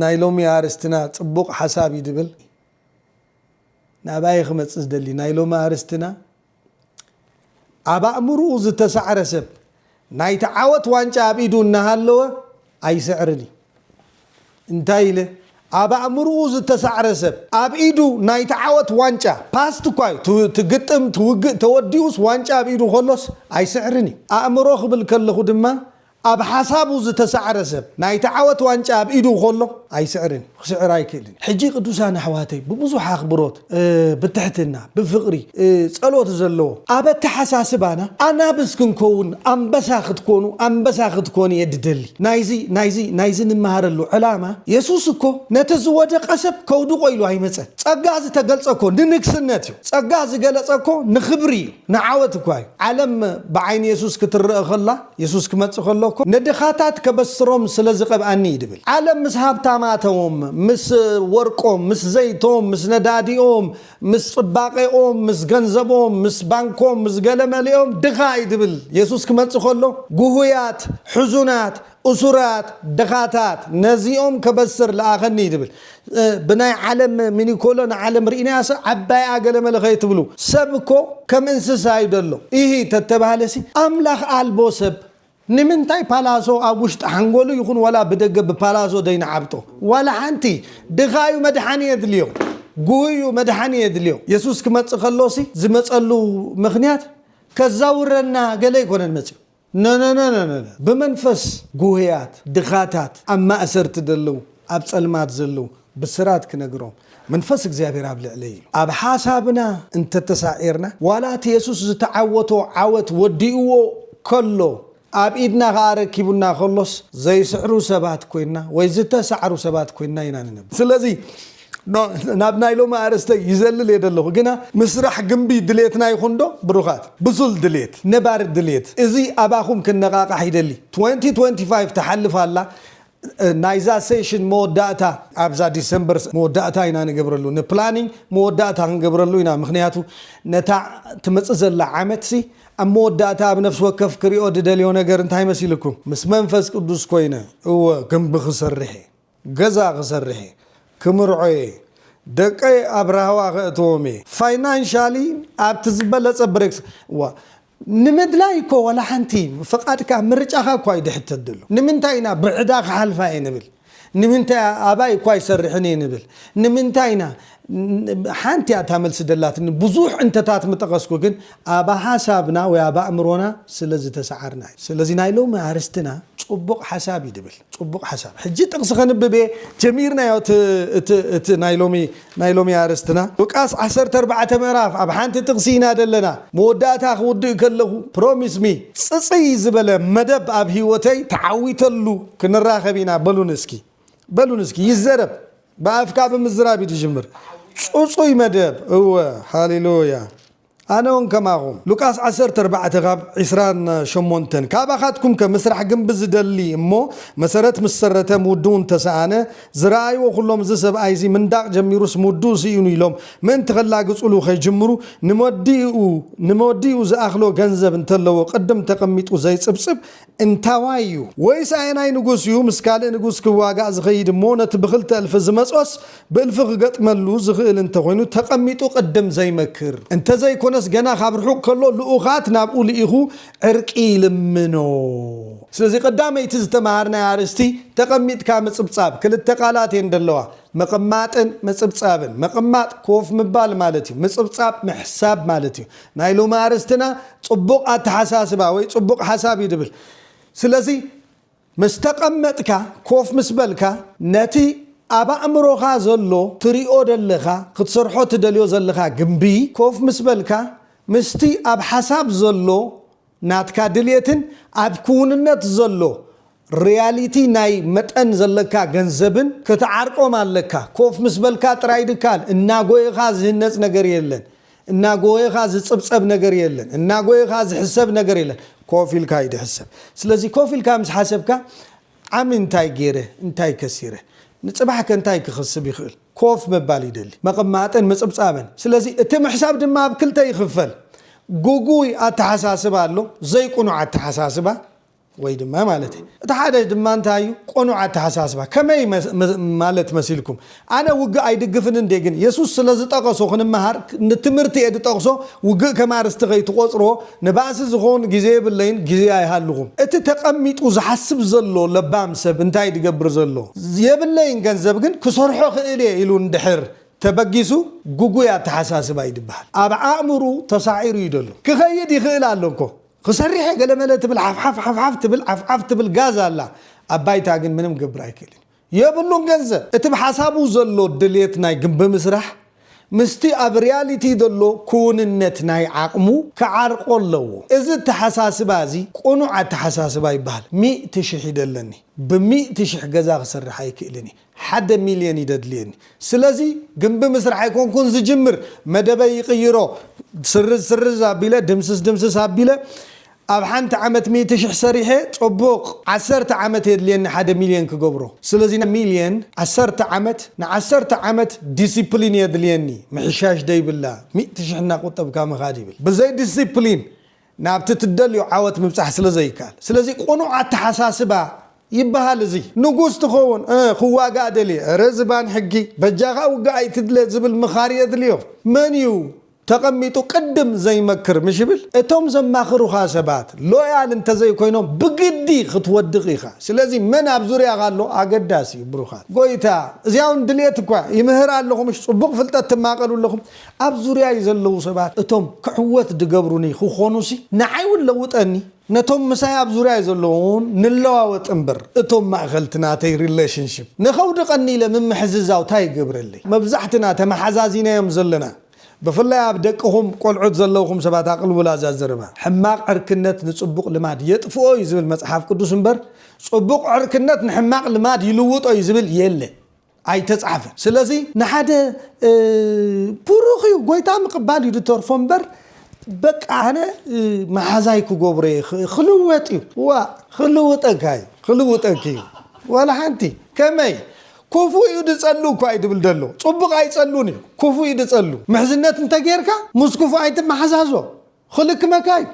ናይ ሎሚ ኣርእስትና ጽቡቅ ሓሳብ እዩ ድብል ናብኣ እየ ክመጽእ ዝደሊ ናይ ሎሚ ኣርእስትና ኣብ ኣእምርኡ ዝተሳዕረ ሰብ ናይቲ ዓወት ዋንጫ ኣብ ኢዱ እናሃለወ ኣይስዕርን እዩ እንታይ ኢለ ኣብ ኣእምርኡ ዝተሳዕረ ሰብ ኣብ ኢዱ ናይቲ ዓወት ዋንጫ ፓስት እኳ እዩ እቲ ግጥም እቲ ውግእ ተወዲኡስ ዋንጫ ኣብ ኢዱ ከሎስ ኣይስዕርን እዩ ኣእምሮ ክብል ከለኹ ድማ ኣብ ሓሳቡ ዝተሳዕረ ሰብ ናይቲ ዓወት ዋንጫ ኣብ ኢዱ ከሎ ኣይስዕርን እዩ። ክስዕር ኣይክእልን እዩ። ሕጂ ቅዱሳን ኣሕዋተይ ብብዙሕ ኣኽብሮት፣ ብትሕትና፣ ብፍቕሪ፣ ጸሎት ዘለዎ ኣብ ኣተሓሳስባና ኣናብስ ክንከውን ኣንበሳ ክትኮኑ ኣንበሳ ክትኮኒ እየ ዝደሊ። ናይዚ ናይዚ ናይዚ ንመሃረሉ ዕላማ የሱስ እኮ ነቲ ዝወደቐ ሰብ ከውድቖ ኢሉ ኣይመጸን። ጸጋ ዝተገልጸ እኮ ንንግስነት እዩ። ጸጋ ዝገለጸ እኮ ንኽብሪ እዩ ንዓወት እኳ እዩ። ዓለም ብዓይኒ የሱስ ክትረኣ ከላ የሱስ ክመጽእ ከሎ እኮ ንድኻታት ከበስሮም ስለ ዝቐብኣኒ እዩ ድብል። ዓለም ምስ ሃብታማቶም፣ ምስ ወርቆም፣ ምስ ዘይቶም፣ ምስ ነዳዲኦም፣ ምስ ጽባቄኦም፣ ምስ ገንዘቦም፣ ምስ ባንኮም፣ ምስ ገለ መሊኦም ድኻ እዩ ድብል። የሱስ ክመጽእ ከሎ ጉሁያት፣ ሕዙናት፣ እሱራት፣ ድኻታት ነዚኦም ከበስር ልኣኸኒ እዩ ድብል። ብናይ ዓለም ሚኒኮሎ ንዓለም ሪኢናያሰ ዓባይኣ ገለመለ ከይትብሉ ሰብ እኮ ከም እንስሳ እዩ ደሎ ኢሂ ተተባህለሲ ኣምላኽ ኣልቦ ሰብ ንምንታይ ፓላሶ ኣብ ውሽጢ ሓንጎሉ ይኹን ዋላ ብደገ ብፓላሶ ደይንዓብጦ ዋላ ሓንቲ ድኻ እዩ መድሓኒ የድልዮ ጉሁይ እዩ መድሓኒ የድልዮ የሱስ ክመጽእ ከሎሲ ዝመጸሉ ምኽንያት ከዛውረና ገለ ኣይኮነን መጺኡ ነነነነነ ብመንፈስ ጉሁያት ድኻታት ኣብ ማእሰርቲ ደለዉ ኣብ ጸልማት ዘለዉ ብስራት ክነግሮም መንፈስ እግዚኣብሔር ኣብ ልዕለይ ኢሉ። ኣብ ሓሳብና እንተ ተሳዒርና ዋላ እቲ የሱስ ዝተዓወቶ ዓወት ወዲእዎ ከሎ ኣብ ኢድና ከኣ ኣረኪቡና ከሎስ ዘይስዕሩ ሰባት ኮይንና ወይ ዝተሳዕሩ ሰባት ኮይንና ኢና ንነብር። ስለዚ ናብ ናይ ሎሚ ኣርእስተይ ይዘልል እየ ደለኹ ግና ምስራሕ ግምቢ ድሌትና ይኹን ዶ ብሩኻት ብሱል ድሌት ነባሪ ድሌት እዚ ኣባኹም ክነቓቓሕ ይደሊ ትወንቲ ትወንቲ ፋይቭ ትሓልፍ ኣላ ናይዛ ሴሽን መወዳእታ ኣብዛ ዲሰምበር መወዳእታ ኢና ንገብረሉ ንፕላኒንግ መወዳእታ ክንገብረሉ ኢና ምክንያቱ ነታ ትመፅእ ዘላ ዓመት ሲ ኣብ መወዳእታ ኣብ ነፍሲ ወከፍ ክሪኦ ድደልዮ ነገር እንታይ መሲልኩም ምስ መንፈስ ቅዱስ ኮይነ እወ ግምቢ ክሰርሕ እየ ገዛ ክሰርሕ እየ ክምርዖ እየ ደቀይ ኣብ ራህዋ ከእትዎም እየ ፋይናንሻሊ ኣብቲ ዝበለጸ ብሬክስ ዋ ንምድላይ እኮ ዋላ ሓንቲ ፍቃድካ ምርጫኻ እኳ ኣይድሕተት ዘሎ ንምንታይ ኢና ብዕዳ ክሓልፋ እየ ንብል ንምንታይ ኣባይ እኳ ኣይሰርሕን እየ ንብል ንምንታይ ኢና ሓንቲ እያ እታ መልሲ ደላትኒ ብዙሕ እንተታት ምጠቐስኩ ግን ኣብ ሓሳብና ወይ ኣብ ኣእምሮና ስለ ዝተሰዓርና እዩ ስለዚ ናይ ሎሚ ኣርስትና ጽቡቕ ሓሳብ እዩ ድብል ጽቡቕ ሓሳብ ሕጂ ጥቕሲ ከንብብ እየ ጀሚርናዮ እቲ እቲ እቲ ናይ ሎሚ ናይ ሎሚ ኣርስትና ሉቃስ ዓሰርተ ኣርባዕተ ምዕራፍ ኣብ ሓንቲ ጥቕሲ ኢና ደለና መወዳእታ ክውድእ ከለኹ ፕሮሚስ ሚ ጽጽይ ዝበለ መደብ ኣብ ሂወተይ ተዓዊተሉ ክንራኸብ ኢና በሉኒ እስኪ በሉኒ እስኪ ይዘረብ ብኣፍካ ብምዝራብ እዩ ዝጅምር። ፁፁይ መደብ እወ ሃሌሉያ ኣነ ውን ከማኩም። ሉቃስ ዓሰርተ ኣርባዕተ ካብ ዕስራን ሸሞንተን ካባኻትኩም ከ ምስራሕ ግንቢ ዝደሊ እሞ መሰረት ምስ ሰረተ ምውድኡ እንተ ሰኣነ ዝረኣይዎ ኩሎም እዚ ሰብኣይ እዚ ምንዳቕ ጀሚሩስ ምውድኡ ስኢኑ ኢሎም ምእንቲ ከላግጹሉ ከይጅምሩ ንመወዲኡ ንመወዲኡ ዝኣኽሎ ገንዘብ እንተለዎ ቅድም ተቐሚጡ ዘይጽብጽብ እንታዋይ እዩ? ወይስ ኣየናይ ንጉስ እዩ ምስ ካልእ ንጉስ ክዋጋእ ዝኸይድ እሞ ነቲ ብኽልተ እልፊ ዝመጾስ ብእልፊ ክገጥመሉ ዝኽእል እንተኾይኑ ተቐሚጡ ቅድም ዘይመክር? እንተዘይኮነስ ገና ካብ ርሑቕ ከሎ ልኡኻት ናብኡ ልኢኹ ዕርቂ ይልምኖ? ስለዚ ቀዳመይቲ ዝተመሃርናያ ኣርእስቲ ተቐሚጥካ ምጽብጻብ ክልተ ቃላት እየን ደለዋ፣ ምቕማጥን ምጽብጻብን። ምቕማጥ ኮፍ ምባል ማለት እዩ። ምጽብጻብ ምሕሳብ ማለት እዩ። ናይ ሎሚ ኣርእስትና ጽቡቕ ኣተሓሳስባ ወይ ጽቡቕ ሓሳብ እዩ ዝብል። ስለዚ ምስ ተቐመጥካ፣ ኮፍ ምስ በልካ፣ ነቲ ኣብ ኣእምሮኻ ዘሎ ትሪኦ ዘለኻ ክትሰርሖ ትደልዮ ዘለኻ ግምቢ ኮፍ ምስ በልካ ምስቲ ኣብ ሓሳብ ዘሎ ናትካ ድልየትን ኣብ ክውንነት ዘሎ ርያሊቲ ናይ መጠን ዘለካ ገንዘብን ክትዓርቆም ኣለካ። ኮፍ ምስ በልካ ጥራይ ድካን እናጎየኻ ዝህነጽ ነገር የለን፣ እናጎየኻ ዝጽብጸብ ነገር የለን፣ እናጎየኻ ዝሕሰብ ነገር የለን፣ ኮፍ ኢልካ እዩ ድሕሰብ። ስለዚ ኮፍ ኢልካ ምስ ሓሰብካ ዓሚ እንታይ ገይረ እንታይ ከሲረ ንጽባሕከ እንታይ ክኸስብ ይኽእል ኮፍ ምባል ይደሊ መቐማጥን ምጽብጻብን ስለዚ እቲ ምሕሳብ ድማ ኣብ ክልተ ይኽፈል ጉጉይ ኣተሓሳስባ ኣሎ ዘይቁኑዕ ኣተሓሳስባ ወይ ድማ ማለተይ እቲ ሓደ ድማ እንታይ እዩ ቁኑዕ ኣተሓሳስባ ከመይ ማለት መሲልኩም ኣነ ውግእ ኣይድግፍን እንዴ ግን የሱስ ስለ ዝጠቀሶ ክንመሃር ን ትምህርቲ እየ ድጠቅሶ ውግእ ከም ኣርስቲ ከይትቆጽርዎ ንባእሲ ዝኮን ግዜ የብለይን ግዜ ኣይሃልኹም። እቲ ተቀሚጡ ዝሓስብ ዘሎ ለባም ሰብ እንታይ ድገብር ዘሎ የብለይን ገንዘብ ግን ክሰርሖ እኽእል እየ ኢሉ እንድሕር ተበጊሱ ጉጉይ ኣተሓሳስባ እዩ ድበሃል ኣብ ኣእምርኡ ተሳዒሩ እዩ ደሎ ክኸይድ ይኽእል ኣሎ እኮ ክሰርሕ እየ ገለመለ ትብል ሓፍሓፍ ሓፍሓፍ ትብል ዓፍዓፍ ትብል ጋዝ ኣላ ኣብ ባይታ ግን ምንም ክገብር ኣይክእልን እዩ። የብሉን ገንዘብ እቲ ብሓሳቡ ዘሎ ድልየት ናይ ግምቢ ምስራሕ ምስቲ ኣብ ርያሊቲ ዘሎ ክውንነት ናይ ዓቕሙ ክዓርቆ ኣለዎ እዚ ኣተሓሳስባ እዚ ቁኑዕ ኣተሓሳስባ ይበሃል ሚእቲ ሽሕ ይደለኒ ብሚእቲ ሽሕ ገዛ ክሰርሕ ኣይክእልን እየ ሓደ ሚልየን እዩ ደድልየኒ ስለዚ ግምቢ ምስራሕ ኣይኮንኩን ዝጅምር መደበይ ይቕይሮ ስርዝ ስርዝ ኣቢለ ድምስስ ድምስስ ኣቢለ ኣብ ሓንቲ ዓመት ሚእቲ ሽሕ ሰሪሐ ጸቡቅ ዓሰርተ ዓመት የድልየኒ ሓደ ሚልዮን ክገብሮ ስለዚ ሚልዮን ዓሰርተ ዓመት ንዓሰርተ ዓመት ዲሲፕሊን የድልየኒ ምሕሻሽ ደይብላ ሚእቲ ሽሕ እናቁጠብካ ምካድ ይብል ብዘይ ዲሲፕሊን ናብቲ ትደልዮ ዓወት ምብጻሕ ስለ ዘይካኣል ስለዚ ቁኑዕ ኣታሓሳስባ ይባሃል እዚ ንጉስ ትከውን እ ክዋጋእ ደልየ እረ ዝባን ሕጊ በጃካ ውጋእ ኣይትድለ ዝብል ምካር የድልዮ መን እዩ ተቐሚጡ ቅድም ዘይመክር ምሽ ይብል እቶም ዘማኽሩኻ ሰባት ሎያል እንተዘይኮይኖም ብግዲ ክትወድቕ ኢኻ ስለዚ መን ኣብ ዙርያኻ ኣሎ ኣገዳሲ እዩ ብሩኻት ጎይታ እዚኣ ውን ድልየት እኳ ይምህር ኣለኹ ምሽ ጽቡቕ ፍልጠት ትማቀሉ ኣለኹም ኣብ ዙርያይ ዘለዉ ሰባት እቶም ክዕወት ድገብሩኒ ክኾኑሲ ንዓይ ውን ለውጠኒ ነቶም ምሳይ ኣብ ዙርያይ ዘለዉ ውን ንለዋወጥ እምበር እቶም ማእኸልቲ ናተይ ሪለሽንሽፕ ንኸውድቐኒ ኢለ ምምሕዝዛው ታይ ይገብረለይ መብዛሕትና ተመሓዛዚናዮም ዘለና ብፍላይ ኣብ ደቅኹም ቆልዑት ዘለውኹም ሰባት ኣቕልቡላ እዛ ዘረባ። ሕማቕ ዕርክነት ንጽቡቕ ልማድ የጥፍኦ እዩ ዝብል መጽሓፍ ቅዱስ እምበር ጽቡቕ ዕርክነት ንሕማቕ ልማድ ይልውጦ እዩ ዝብል የለን። ኣይተጻሕፈን። ስለዚ ንሓደ ብሩኽ እዩ ጎይታ ምቕባል እዩ ዝተርፎ እምበር በቃ ኣነ መሓዛይ ክገብሮ እየ ኽ- ክልወጥ እዩ ዋእ ክልውጠካ እዩ ክልውጠኪ እዩ ዋላ ሓንቲ ከመይ ኩፉ እዩ ድጸሉ እኳ እዩ ድብል ደሎ ጹቡቅ ኣይጸሉን እዩ ኩፉ እዩ ድጸሉ ምሕዝነት እንተ ገርካ ምስ ኩፉ ኣይትማሓዛዞ ኽልክመካ እዩ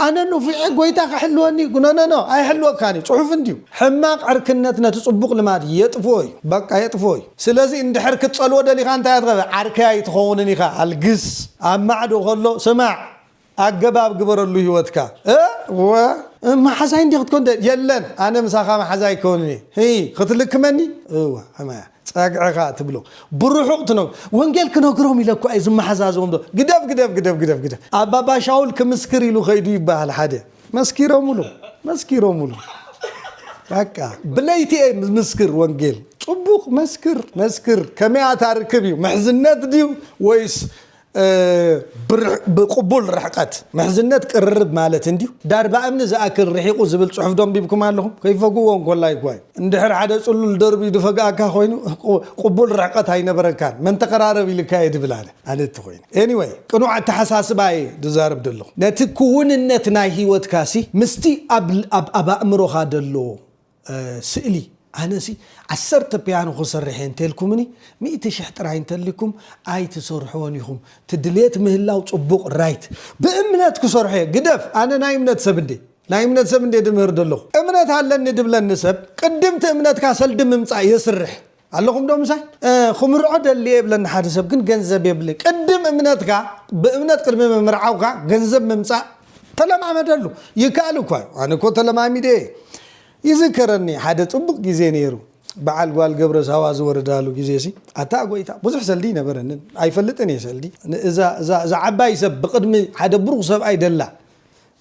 ኣነ ኑፊዔ ጎይታ ክሕልወኒ እዩ ኖኖኖ ኣይሕልወካን እዩ ጹሑፍ እንድዩ ሕማቅ ዕርክነት ነቲ ጹቡቅ ልማድ የጥፍኦ እዩ በቃ የጥፍኦ እዩ ስለዚ እንድሕር ክትጸልዎ ደሊካ እንታይ እያ ትገብር ዓርከይ ኣይትኸውንን ኢኻ ኣልግስ ኣብ ማዕዶ ከሎ ስማዕ ኣገባብ ግበረሉ ሂወትካ እወ ማሓዛይ እንድየ ክትኮን ደልየ የለን ኣነ ምሳካ ማሓዛይ ክከውን እየ ህይ ክትልክመኒ እወ ሕማያ ጸግዕካ ትብሎ ብሩሑቅ ትነግ ወንጌል ክነግሮም ኢለ እኳ እየ ዝማሓዛዘቦም ዘሎ ግደፍ ግደፍ ግደፍ ግደፍ ግደፍ ኣብ ባባ ሻውል ክምስክር ኢሉ ከይዱ ይባሃል ሓደ መስኪሮምሉ መስኪሮምሉ በቃ ብለይቲ እየ ምስክር ወንጌል ጽቡቅ መስክር መስክር ከመይ ኣታ ርክብ እዩ ምሕዝነት ድዩ ወይስ ብቕቡል ርሕቐት ምሕዝነት ቅርርብ ማለት እንድዩ። ዳርባ እምኒ ዝኣክል ርሒቑ ዝብል ጽሑፍ ዶ ኣንቢብኩም ኣለኹም? ከይፈግኡዎ እንኮሎ ኣይጓዩ። እንድሕር ሓደ ጽሉል ደርብዩ ድፈግኣካ ኮይኑ ቅቡል ርሕቐት ኣይነበረካን መን ተቐራረብ ኢልካየ ድብል ኣነ። ኣነ እንተኾይነ። Anyway ቅኑዕ ኣተሓሳስባ እየ ድዛረብ ደለኹ። ነቲ ክውንነት ናይ ህይወትካሲ ምስቲ ኣብ ኣኣእምሮኻ ደሎ ስእሊ ኣነሲ ዓሰርተ ፕያኖ ክሰርሕ እየ እንተልኩምኒ ሚእቲ ሽሕ ጥራይ እንተሊኩም ኣይትሰርሕዎን ኢኩም ትድልየት ምህላው ጽቡቅ ራይት ብእምነት ክሰርሖ እየ ግደፍ ኣነ ናይ እምነት ሰብ እንዴ ናይ እምነት ሰብ እንዴ ድምህር ደለኩ እምነት ኣለኒ ድብለኒ ሰብ ቅድምቲ እምነትካ ሰልዲ ምምጻእ የስርሕ ኣለኹም ዶ ምሳይ? ክምርዖ ደልየ ይብለኒ ሓደ ሰብ ግን ገንዘብ የብለይ ቅድም እምነትካ ብእምነት ቅድሚ ምምርዓውካ ገንዘብ ምምጻእ ተለማመደሉ ይከኣል እኳ እዩ ኣነ እኮ ተለማሚደ እየ ይዝከረኒ ሓደ ጽቡቅ ግዜ ነይሩ በዓል ጓል ገብረ ሳዋ ዝወረዳሉ ግዜ ሲ ኣታ ጎይታ ብዙሕ ሰልዲ ይነበረንን ኣይፈልጥን እየ ሰልዲ እዛ ዓባይ ሰብ ብቅድሚ ሓደ ብሩኽ ሰብኣይ ደላ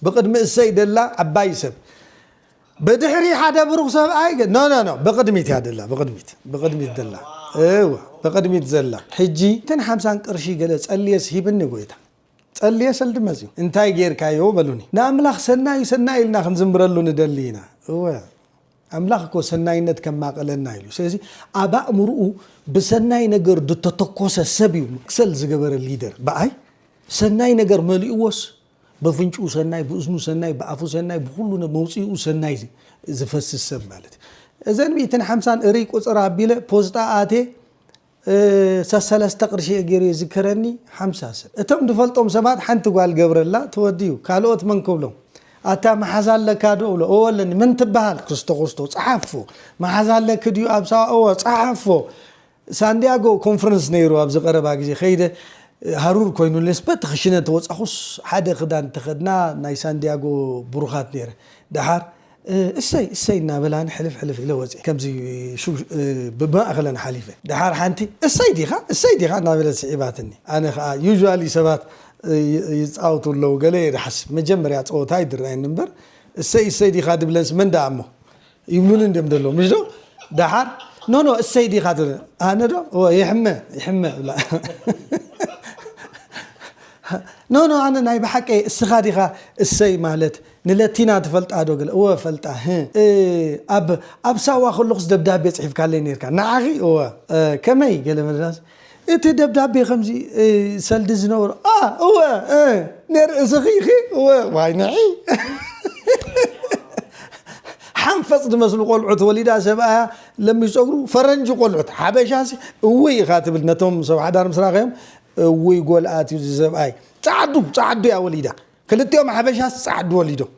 ብቅድሚ እሰይ ደላ ዓባይ ሰብ ብድሕሪ ሓደ ብሩኽ ሰብኣይ ገ ኖ ኖ ኖ ብቕድሚት እያ ደላ ብቕድሚት ብቕድሚት ደላ እወ ብቕድሚት ዘላ ሕጂ እተን ሓምሳን ቅርሺ ገለ ጸልየስ ሂብኒ ጎይታ ጸልየ ሰልዲ መጽዩ እንታይ ጌርካዮ በሉኒ ንኣምላኽ ሰናዩ ሰናይ ኢልና ክንዝምረሉ ንደሊ ኢና እወ ኣምላኽ እኮ ሰናይነት ከማቐለና ኢሉ ስለዚ ኣብ ኣእምርኡ ብሰናይ ነገር ድተተኮሰ ሰብ እዩ መክሰል ዝገበረ ሊደር ብኣይ ሰናይ ነገር መሊእዎስ በፍንጭኡ ሰናይ ብእዝኑ ሰናይ ብኣፉ ሰናይ ብኹሉ ነ መውጽኢኡ ሰናይ ዚ- ዝፈስስ ሰብ ማለት እዩ። እዘን ሚእትን ሓምሳን እርይ ቁጽር ኣቢለ ፖስጣ ኣትየ እ፣ ሰሰለስተ ቅርሺ እየ ገይሩ የዝከረኒ ሓምሳ ሰብ እቶም ድፈልጦም ሰባት ሓንቲ ጓል ገብረላ ትወድዩ ካልኦት መን ክብሎም ኣታ መሓዛ ኣለካ ዶ እብሎ እወ ኣለኒ መን ትበሃል ክስቶ ክስቶ ጸሓፎ መሓዛ ኣለኪ ድዩ ኣብ ሳዋ እወ ጸሓፎ ሳንድያጎ ኮንፈረንስ ነይሩ ኣብዚ ቀረባ ግዜ ከይደ ሃሩር ኮይኑኒስ በቲ ክሽነ ተወጻኹስ ሓደ ክዳን ተኸድና ናይ ሳንድያጎ ብሩኻት ነይረ ደሓር እሰይ እሰይ እናበላኒ ሕልፍ ሕልፍ ኢለ ወጽየ ከምዚ ብማእኸለን ሓሊፈ ደሓር ሓንቲ እሰይ ዲኻ እሰይ ዲኻ እናበለት ስዒባትኒ ኣነ ከኣ ዩዥዋሊ ሰባት ይጻወቱ ኣለዉ ገለ እየ ድሓስብ መጀመርያ ጸወታ ኣይድረኣየኒ እምበር እሰይ እሰይ ዲኻ ድብለንስ መን ደኣ እሞ ይብሉኒ እንድዮም ደለዉ ምሽዶ ደሓር ኖኖ እሰይ ዲኻ ትብል ኣነ ዶ እወ ይሕመ ይሕመ እብላ ኖኖ ኣነ ናይ ብሓቂ እስኻ ዲኻ እሰይ ማለት ንለቲና ትፈልጣ ዶ ግለ እወ ፈልጣ ህ እ ኣብ ኣብ ሳዋ ከለኹስ ደብዳቤ ጽሒፍካለይ ነርካ ንዓኺ እወ እ ከመይ ገለ መድራስ እቲ ደብዳቤ ከምዚ ሰልዲ ዝነበሮ ኣ እወ እ ንርእስኺ ኢኺ እወ ዋይ ንዒ ሓንፈጽ ዝመስሉ ቆልዑት ወሊዳ ሰብኣያ ለሚሽ ጸጉሩ ፈረንጂ ቆልዑት ሓበሻሲ እውይ ኢኻ ትብል ነቶም ሰብ ሓዳር ምስ ራኸዮም እውይ ጎልኣት እዩ ዝሰብኣይ ጻዕዱ ጻዕዱ እያ ወሊዳ ክልቲኦም ሓበሻስ ጻዕዱ ወሊዶም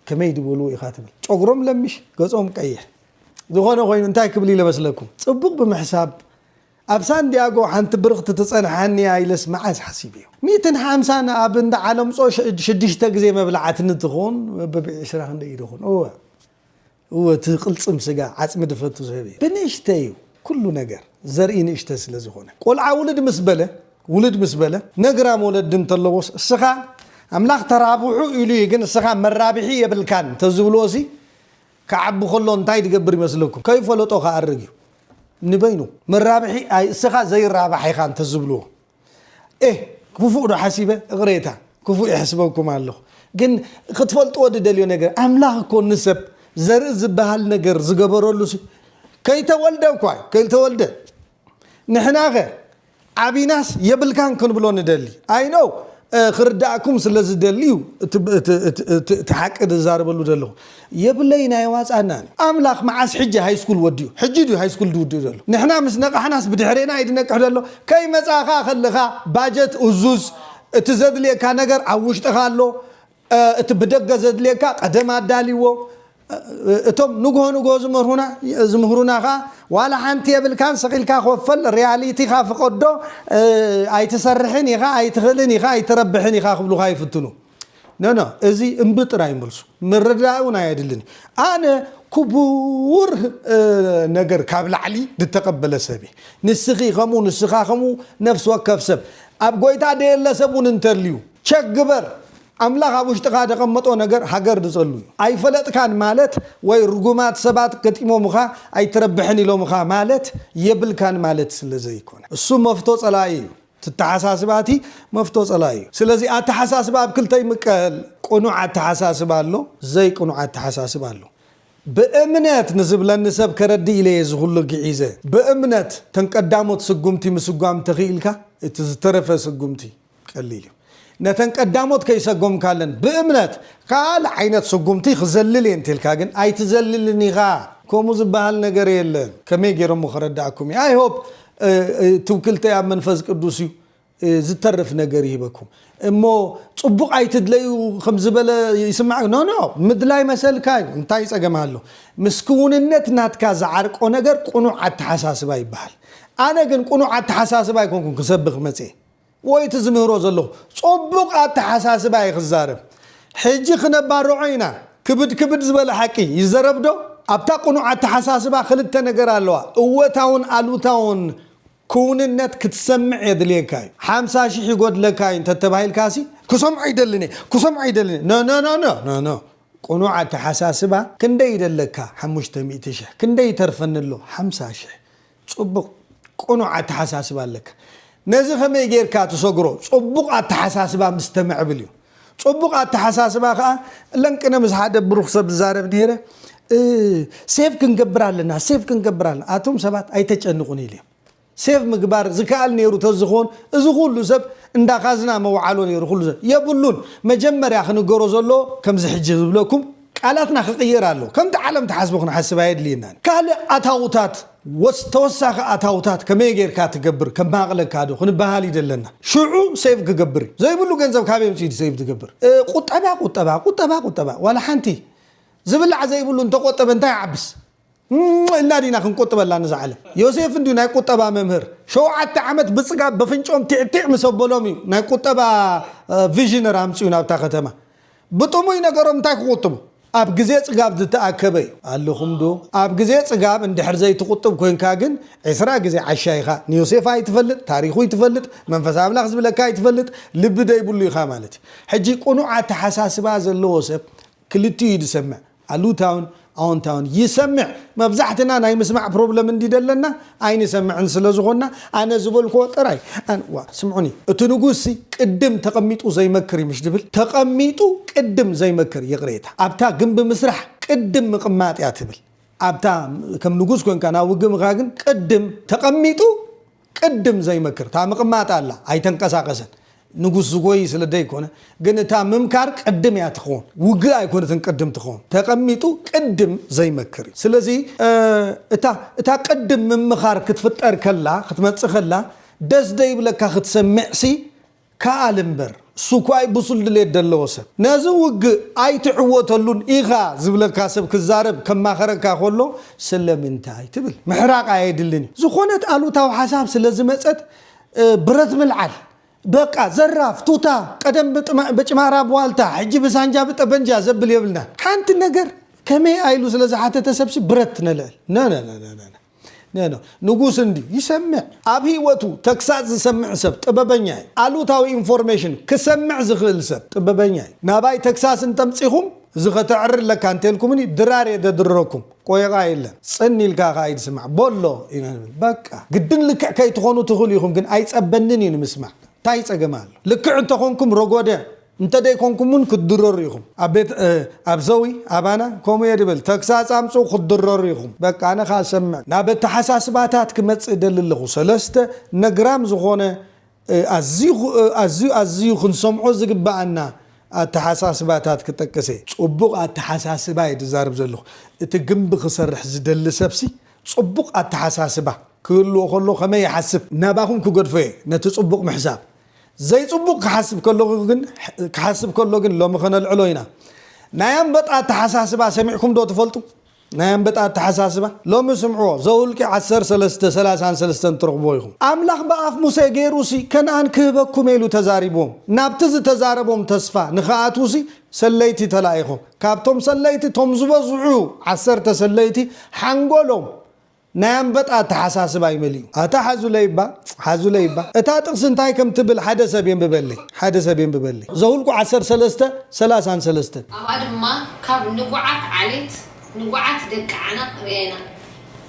ከመይ ድበሉ ኢኻ ትብል ጨጉሮም ለምሽ ገጾም ቀይሕ ዝኾነ ኮይኑ እንታይ ክብል ኢለ መስለኩም ጽቡቕ ብምሕሳብ ኣብ ሳንዲያጎ ሓንቲ ብርኽቲ ትጸንሓኒ እያ ኢለስ መዓስ ሓሲበዮ ሚእትን ሓምሳን ኣብ እንዳ ዓለምጾ ሽዱሽተ ግዜ መብልዓትኒ ትኹን ብብዒ ስራ ክንደይ ኢደኹን እወ እወ እቲ ቅልጽም ስጋ ዓጽሚ ድፈቱ ዝህብ እዩ ብንእሽተይ እዩ ኩሉ ነገር ዘርኢ ንእሽተ ስለ ዝኮነ ቆልዓ ውልድ ምስ በለ ውልድ ምስ በለ ነግራም ወለዲ እንተለዎስ እስኻ ኣምላኽ ተራብሑ ኢሉ እዩ ግን እስኻ መራብሒ የብልካን ተዝብልዎሲ ክዓቢ ከሎ እንታይ ድገብር ይመስለኩም ከይፈለጦ ክኣርግ እዩ ንበይኑ መራብሒ ኣይ እስኻ ዘይራባሕ ኢኻ እንተዝብልዎ ኤህ ኩፉእ ዶ ሓሲበ እቅሬታ ኩፉእ ይሕስበኩም ኣለኩ ግን ክትፈልጥዎ ድደልዮ ነገር ኣምላክ እኮ ንሰብ ዘርኢ ዝባሃል ነገር ዝገበረሉ ሲ ከይተወልደ እኳ እዩ ከይተወልደ ንሕና ከ ዓቢናስ የብልካን ክንብሎ ንደሊ ኣይ ኖው ክርዳእኩም ስለ ዝደሊ እዩ እቲ ሓቂ ዝዛረበሉ ዘለኩ የብለይ ናይ ዋጻ እና ን ኣምላክ መዓስ ሕጂ ሃይስኩል ወዲኡ ሕጂ ድዩ ሃይስኩል ድውድእ ዘሎ ንሕና ምስ ነቃሕናስ ብድሕሬና ይድነቅሕ ደሎ ከይመጻ ከኣ ከልካ ባጀት እዙዝ እቲ ዘድልየካ ነገር ኣብ ውሽጥካ ኣሎ እቲ ብደገ ዘድልየካ ቀደም ኣዳልዎ እቶም ንግሆ ንግሆ ዝመርሁና ዝምህሩና ከኣ ዋላ ሓንቲ የብልካን ስቅ ኢልካ ኮፈል ርያሊቲካ ፍቀዶ ኣይትሰርሕን ኢካ ኣይትክእልን ኢካ ኣይትረብሕን ኢካ ክብሉካ ይፍትኑ ኖኖ እዚ እምቢ ጥራይ መልሱ ምርዳእ እውን ኣየድልን እዩ ኣነ ኩቡር ነገር ካብ ላዕሊ ድተቀበለ ሰብ እየ ንስኪ ከምኡ ንስካ ከምኡ ነፍሲ ወከፍ ሰብ ኣብ ጎይታ ደየለ ሰብ እውን እንተልዩ ቸክ ግበር ኣምላክ ኣብ ውሽጥካ ደቀመጦ ነገር ሃገር ድጸሉ እዩ ኣይፈለጥካን ማለት ወይ ርጉማት ሰባት ገጢሞምካ ኣይትረብሕን ኢሎምካ ማለት የብልካን ማለት ስለ ዘይኮነ እሱ መፍቶ ጸላኢ እዩ ትተሓሳስባቲ መፍቶ ጸላኢ እዩ ስለዚ ኣተሓሳስባ ኣብ ክልተ ይምቀል ቁኑዕ ኣተሓሳስባ ኣሎ ዘይ ቁኑዕ ኣተሓሳስባ ኣሎ ብእምነት ንዝብለኒ ሰብ ከረድእ ኢለ እየ እዚ ኩሉ ግዒዘ ብእምነት ተን ቀዳሞት ስጉምቲ ምስጓም ተኺኢልካ እቲ ዝተረፈ ስጉምቲ ቀሊል እዩ። ነተን ቀዳሞት ከይሰጎምካለን ብእምነት ካልእ ዓይነት ስጉምቲ ክዘልል እየ እንተልካ ግን ኣይትዘልልን ኢኻ። ከምኡ ዝበሃል ነገር የለን ከመይ ጌረ እሞ ከረድኣኩም እየ i hope ትውክልተይ ኣብ መንፈስ ቅዱስ እዩ ዝተርፍ ነገር ይህበኩም እሞ ጽቡቅ ኣይትድለዩ ከም ዝበለ ይስማዕ ኖ ኖ ምድላይ መሰልካ እዩ እንታይ ጸገም ኣሎ ምስ ክውንነት ናትካ ዝዓርቆ ነገር ቁኑዕ ኣተሓሳስባ ይበሃል ኣነ ግን ቁኑዕ ኣተሓሳስባ ኣይኮንኩን ክሰብኽ መጽየ ወይ እቲ ዝምህሮ ዘለኹ ጹቡቅ ኣተሓሳስባ እየ ክዛረብ ሕጂ ክነባርዖ ኢና ክብድ ክብድ ዝበለ ሓቂ ይዘረብ ዶ ኣብታ ቁኑዕ ኣተሓሳስባ ክልተ ነገር ኣለዋ እወታውን ኣሉታውን ኩውንነት ክትሰምዕ የድልየካ እዩ ሓምሳ ሽሕ ይጎድለካ እዩ እንተተባሂልካሲ ክሰምዖ ኣይደልን እየ ክሰምዖ ኣይደልን እየ ኖኖኖኖኖ ቁኑዕ ኣተሓሳስባ ክንደይ ይደለካ ሓሙሽተ ሚእቲ ሽሕ ክንደይ ይተርፈኒ ኣሎ ሓምሳ ሽሕ ጽቡቅ ቅኑዕ ኣተሓሳስባ ኣለካ ነዚ ከመይ ጌርካ ትሰግሮ ጽቡቅ ኣተሓሳስባ ምስ ተምዕብል እዩ ጽቡቅ ኣተሓሳስባ ከኣ እለን ቅነ ምስ ሓደ ብሩክ ሰብ ዝዛረብ ነይረ ሴቭ ክንገብር ኣለና ሴቭ ክንገብር ኣለና ኣቶም ሰባት ኣይተጨንቁን ኢልዮም ሴቭ ምግባር ዝከኣል ነይሩ ተዝኾን እዚ ኩሉ ሰብ እንዳካዝና መውዓሎ ነይሩ ኩሉ ሰብ የብሉን መጀመርያ ክንገሮ ዘሎ ከምዚ ሕጂ ዝብለኩም ቃላትና ክቕየር ኣለዎ። ከምቲ ዓለም ትሓስቦ ክንሓስብ ኣየድልየናን። ካልእ ኣታውታት ወስ ተወሳኺ ኣታውታት ከመይ ጌርካ ትገብር ከማቕለካ ዶ ክንበሃል ይደለና። ሽዑ ሴቭ ክገብር እዩ። ዘይብሉ ገንዘብ ካበይ ኣምጺኡ ዩ ሴቭ ዝገብር። ቁጠባ ቁጠባ ቁጠባ ቁጠባ ዋላ ሓንቲ። ዝብላዕ ዘይብሉ እንተቆጠበ እንታይ ይዓብስ። እም ኢልና ዲና ክንቁጥበላ ንዛ ዓለም? ዮሴፍ እንድዩ ናይ ቁጠባ መምህር። ሸውዓተ ዓመት ብጽጋብ በፍንጭኦም ቲዕ ቲዕ ምስ ኣበሎም እዩ ናይ ቁጠባ ቪዥነር ኣምጺኡ ናብታ ከተማ። ብጥሙይ ነገሮም እንታይ ክቁጥቡ? ኣብ ግዜ ጽጋብ ዝተኣከበ እዩ። ኣለኹም ዶ? ኣብ ግዜ ጽጋብ እንድሕር ዘይትቁጥብ ኮንካ ግን ዕስራ ግዜ ዓሻ ኢኻ። ንዮሴፍ ኣይትፈልጥ፣ ታሪኹ ኣይትፈልጥ፣ መንፈስ ኣምላኽ ዝብለካ ኣይትፈልጥ፣ ልቢ ዘይብሉ ኢኻ ማለት እዩ። ሕጂ ቅኑዕ ኣተሓሳስባ ዘለዎ ሰብ ክልቲኡ እዩ ዝሰምዕ። ኣሉታውን ኣወንታውን ይሰምዕ መብዛሕትና ናይ ምስማዕ ፕሮብለም እንዲ ደለና ኣይንሰምዕን ስለ ዝኾንና ኣነ ዝበልክዎ ጥራይ ኣን ዋ ስምዑኒ እቲ ንጉስ ሲ ቅድም ተቀሚጡ ዘይመክር እዩ ምሽ ድብል ተቀሚጡ ቅድም ዘይመክር ይቅሬታ ኣብታ ግንቢ ምስራሕ ቅድም ምቅማጥ እያ ትብል ኣብታ ከም ንጉስ ኮንካ ናብ ውግእ ምካ ግን ቅድም ተቀሚጡ ቅድም ዘይመክር እታ ምቅማጥ ኣላ ኣይተንቀሳቀሰን ንጉስ ዝጎይ ስለ ደይኮነ ግን እታ ምምካር ቅድም እያ ትከውን ውግእ ኣይኮነትን ቅድም ትከውን ተቀሚጡ ቅድም ዘይመክር እዩ ስለዚ እታ እታ ቅድም ምምካር ክትፍጠር ከላ ክትመጽእ ከላ ደስ ደይብለካ ክትሰምዕ ሲ ክኣል እምበር ሱኳይ ብሱል ድሌት ደለዎ ሰብ ነዚ ውግእ ኣይትዕወተሉን ኢኻ ዝብለካ ሰብ ክዛረብ ከማኸረካ ከሎ ስለምንታይ ትብል ምሕራቅ ኣየድልን እዩ ዝኾነት ኣሉታዊ ሓሳብ ስለ ዝመጸት ብረት ምልዓል በቃ ዘራፍ ቱታ ቀደም ብጭማራ ብዋልታ ሕጂ ብሳንጃ ብጠበንጃ ዘብል የብልናን ሓንቲ ነገር ከመይ ኣኢሉ ስለ ዝሓተተ ሰብሲ ብረት ነልዕል ነነነነነ ን ንጉስ እንድዩ ይሰምዕ ኣብ ሂወቱ ተግሳጽ ዝሰምዕ ሰብ ጥበበኛ ዩ ኣሉታዊ ኢንፎርሜሽን ክሰምዕ ዝክእል ሰብ ጥበበኛ ዩ ናባይ ተግሳስ እንተምጺኩም እዚ ከተዕሪ ኣለካ እንተልኩምኒ ድራር እየ ዘድርረኩም ቆይቓ የለን ጽን ኢልካ ከኣ ኢድ ስማዕ ቦሎ በቃ ግድን ልክዕ ከይትኮኑ ትክእሉ ኢኩም ግን ኣይጸበንን ዩ ንምስማዕ ታይ ጸገም ኣሎ ልክዕ እንተኮንኩም ሮጎደ እንተ ደይኮንኩም ውን ክትድረሩ ኢኹም ኣብ ቤት ኣብ ዘዊ ኣባና ከምኡ እየ ድብል ተግሳጽ ኣምጽኡ ክትድረሩ ኢኹም በቃ ኣነ ከኣ ሰምዕ ናብ ኣተሓሳስባታት ክመጽእ እደሊ ኣለኹ ሰለስተ ነግራም ዝኾነ ኣዝዩ ኣዝዩ ኣዝዩ ክንሰምዖ ዝግብኣና ኣተሓሳስባታት ክጠቅስ እየ። ጽቡቕ ኣተሓሳስባ እየ ድዛረብ ዘለኹ እቲ ግምቢ ክሰርሕ ዝደሊ ሰብሲ ጽቡቕ ኣተሓሳስባ ክህልዎ ከሎ ከመይ ይሓስብ ናባኹም ክገድፎ እየ ነቲ ጽቡቕ ምሕሳብ ዘይጽቡቕ ክሓስብ ከለኹ ግን ክሓስብ ከሎ ግን ሎሚ ከነልዕሎ ኢና። ናይ ኣንበጣ ኣተሓሳስባ ሰሚዕኩም ዶ ትፈልጡ? ናይ ኣንበጣ ኣተሓሳስባ ሎሚ ስምዕዎ ዘውልቂ ዓሰርተ ሰለስተ ሰላሳን ሰለስተን ትረኽብዎ ኢኹም። ኣምላኽ ብኣፍ ሙሴ ገይሩሲ ከንኣን ክህበኩም ኢሉ ተዛሪብዎም ናብቲ ዝተዛረቦም ተስፋ ንኽኣትዉሲ ሰለይቲ ተላኢኾም። ካብቶም ሰለይቲ እቶም ዝበዝሑ ዓሰርተ ሰለይቲ ሓንጎሎም ናይ ኣንበጣ ኣተሓሳስባ ኣይመልእዩ ኣታ ሓዙለይባ ሓዙለይባ እታ ጥቅሲ እንታይ ከም ትብል ሓደ ሰብ የንብበለይ ሓደ ሰብ የንብበለይ ዘሁልቁ ዓሰርተ ሰለስተ ሰላሳን ሰለስተን። ኣብኣ ድማ ካብ ንጉዓት ዓሌት ንጉዓት ደቂ ዓናቅ ርኣና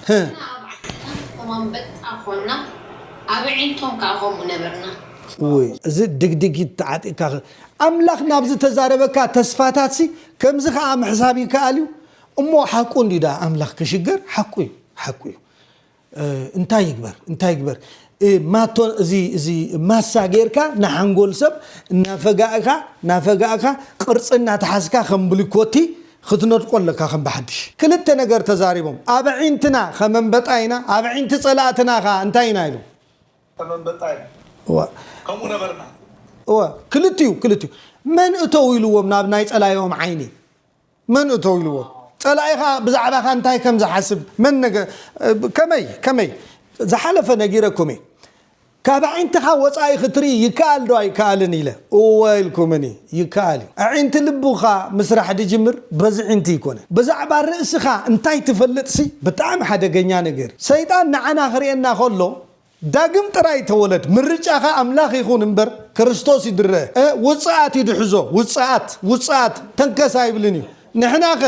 ንሕና ኣብ ዓድና ከም ኣንበጣ ኮና ኣብ ኣዒንቶም ከኣ ከምኡ ነበርና። እውይ እዚ ድግዲጊት ተዓጢቅካ ኣምላክ ናብ ዝተዛረበካ ተስፋታትሲ ከምዚ ከኣ ምሕሳብ ይከኣል እዩ እሞ ሓቁ እንድዩ ደኣ ኣምላኽ ክሽገር ሓቁ እዩ ሓቁ እዩ እንታይ ይግበር እንታይ ይግበር ማቶ እዚ እዚ ማሳ ጌርካ ንሓንጎል ሰብ እናፈጋእካ እናፈጋእካ ቅርፂ እናተሓዝካ ከም ብሊኮቲ ክትነድቆ ኣለካ ከም ብሓድሽ ክልተ ነገር ተዛሪቦም ኣብ ኣዒንትና ከም ኣንበጣ ኢና ኣብ ኣዒንቲ ፀላእትና ከዓ እንታይ ኢና ኢሎም ከም ኣንበጣ ኢና እወ ከምኡ ነበርና እወ ክልቲኡ ክልቲኡ መን እተው ኢልዎም ናብ ናይ ፀላኢኦም ዓይኒ መን እቶ ኢልዎ? ጸላኢኻ ብዛዕባኻ እንታይ ከም ዝሓስብ መን ነገ ከመይ ከመይ? ዝሓለፈ ነጊረኩም እየ። ካብ ኣዒንትኻ ወጻኢ ክትርኢ ይከኣል ዶ ኣይከኣልን ኢለ እወ ኢልኩምኒ። ይከኣል እዩ። ኣዒንቲ ልብኻ ምስራሕ ድጅምር በዚ ዒንቲ ኣይኮነን። ብዛዕባ ርእስኻ እንታይ ትፈልጥሲ ብጣዕሚ ሓደገኛ ነገር እዩ። ሰይጣን ንዓና ክርእየና ከሎ ዳግም ጥራይ ተወለድ ምርጫኻ ኣምላኽ ይኹን እምበር ክርስቶስ ይድረ እ ውጽኣት እዩ ድሕዞ ውጽኣት ውጽኣት ተንከስ ኣይብልን እዩ ንሕናኸ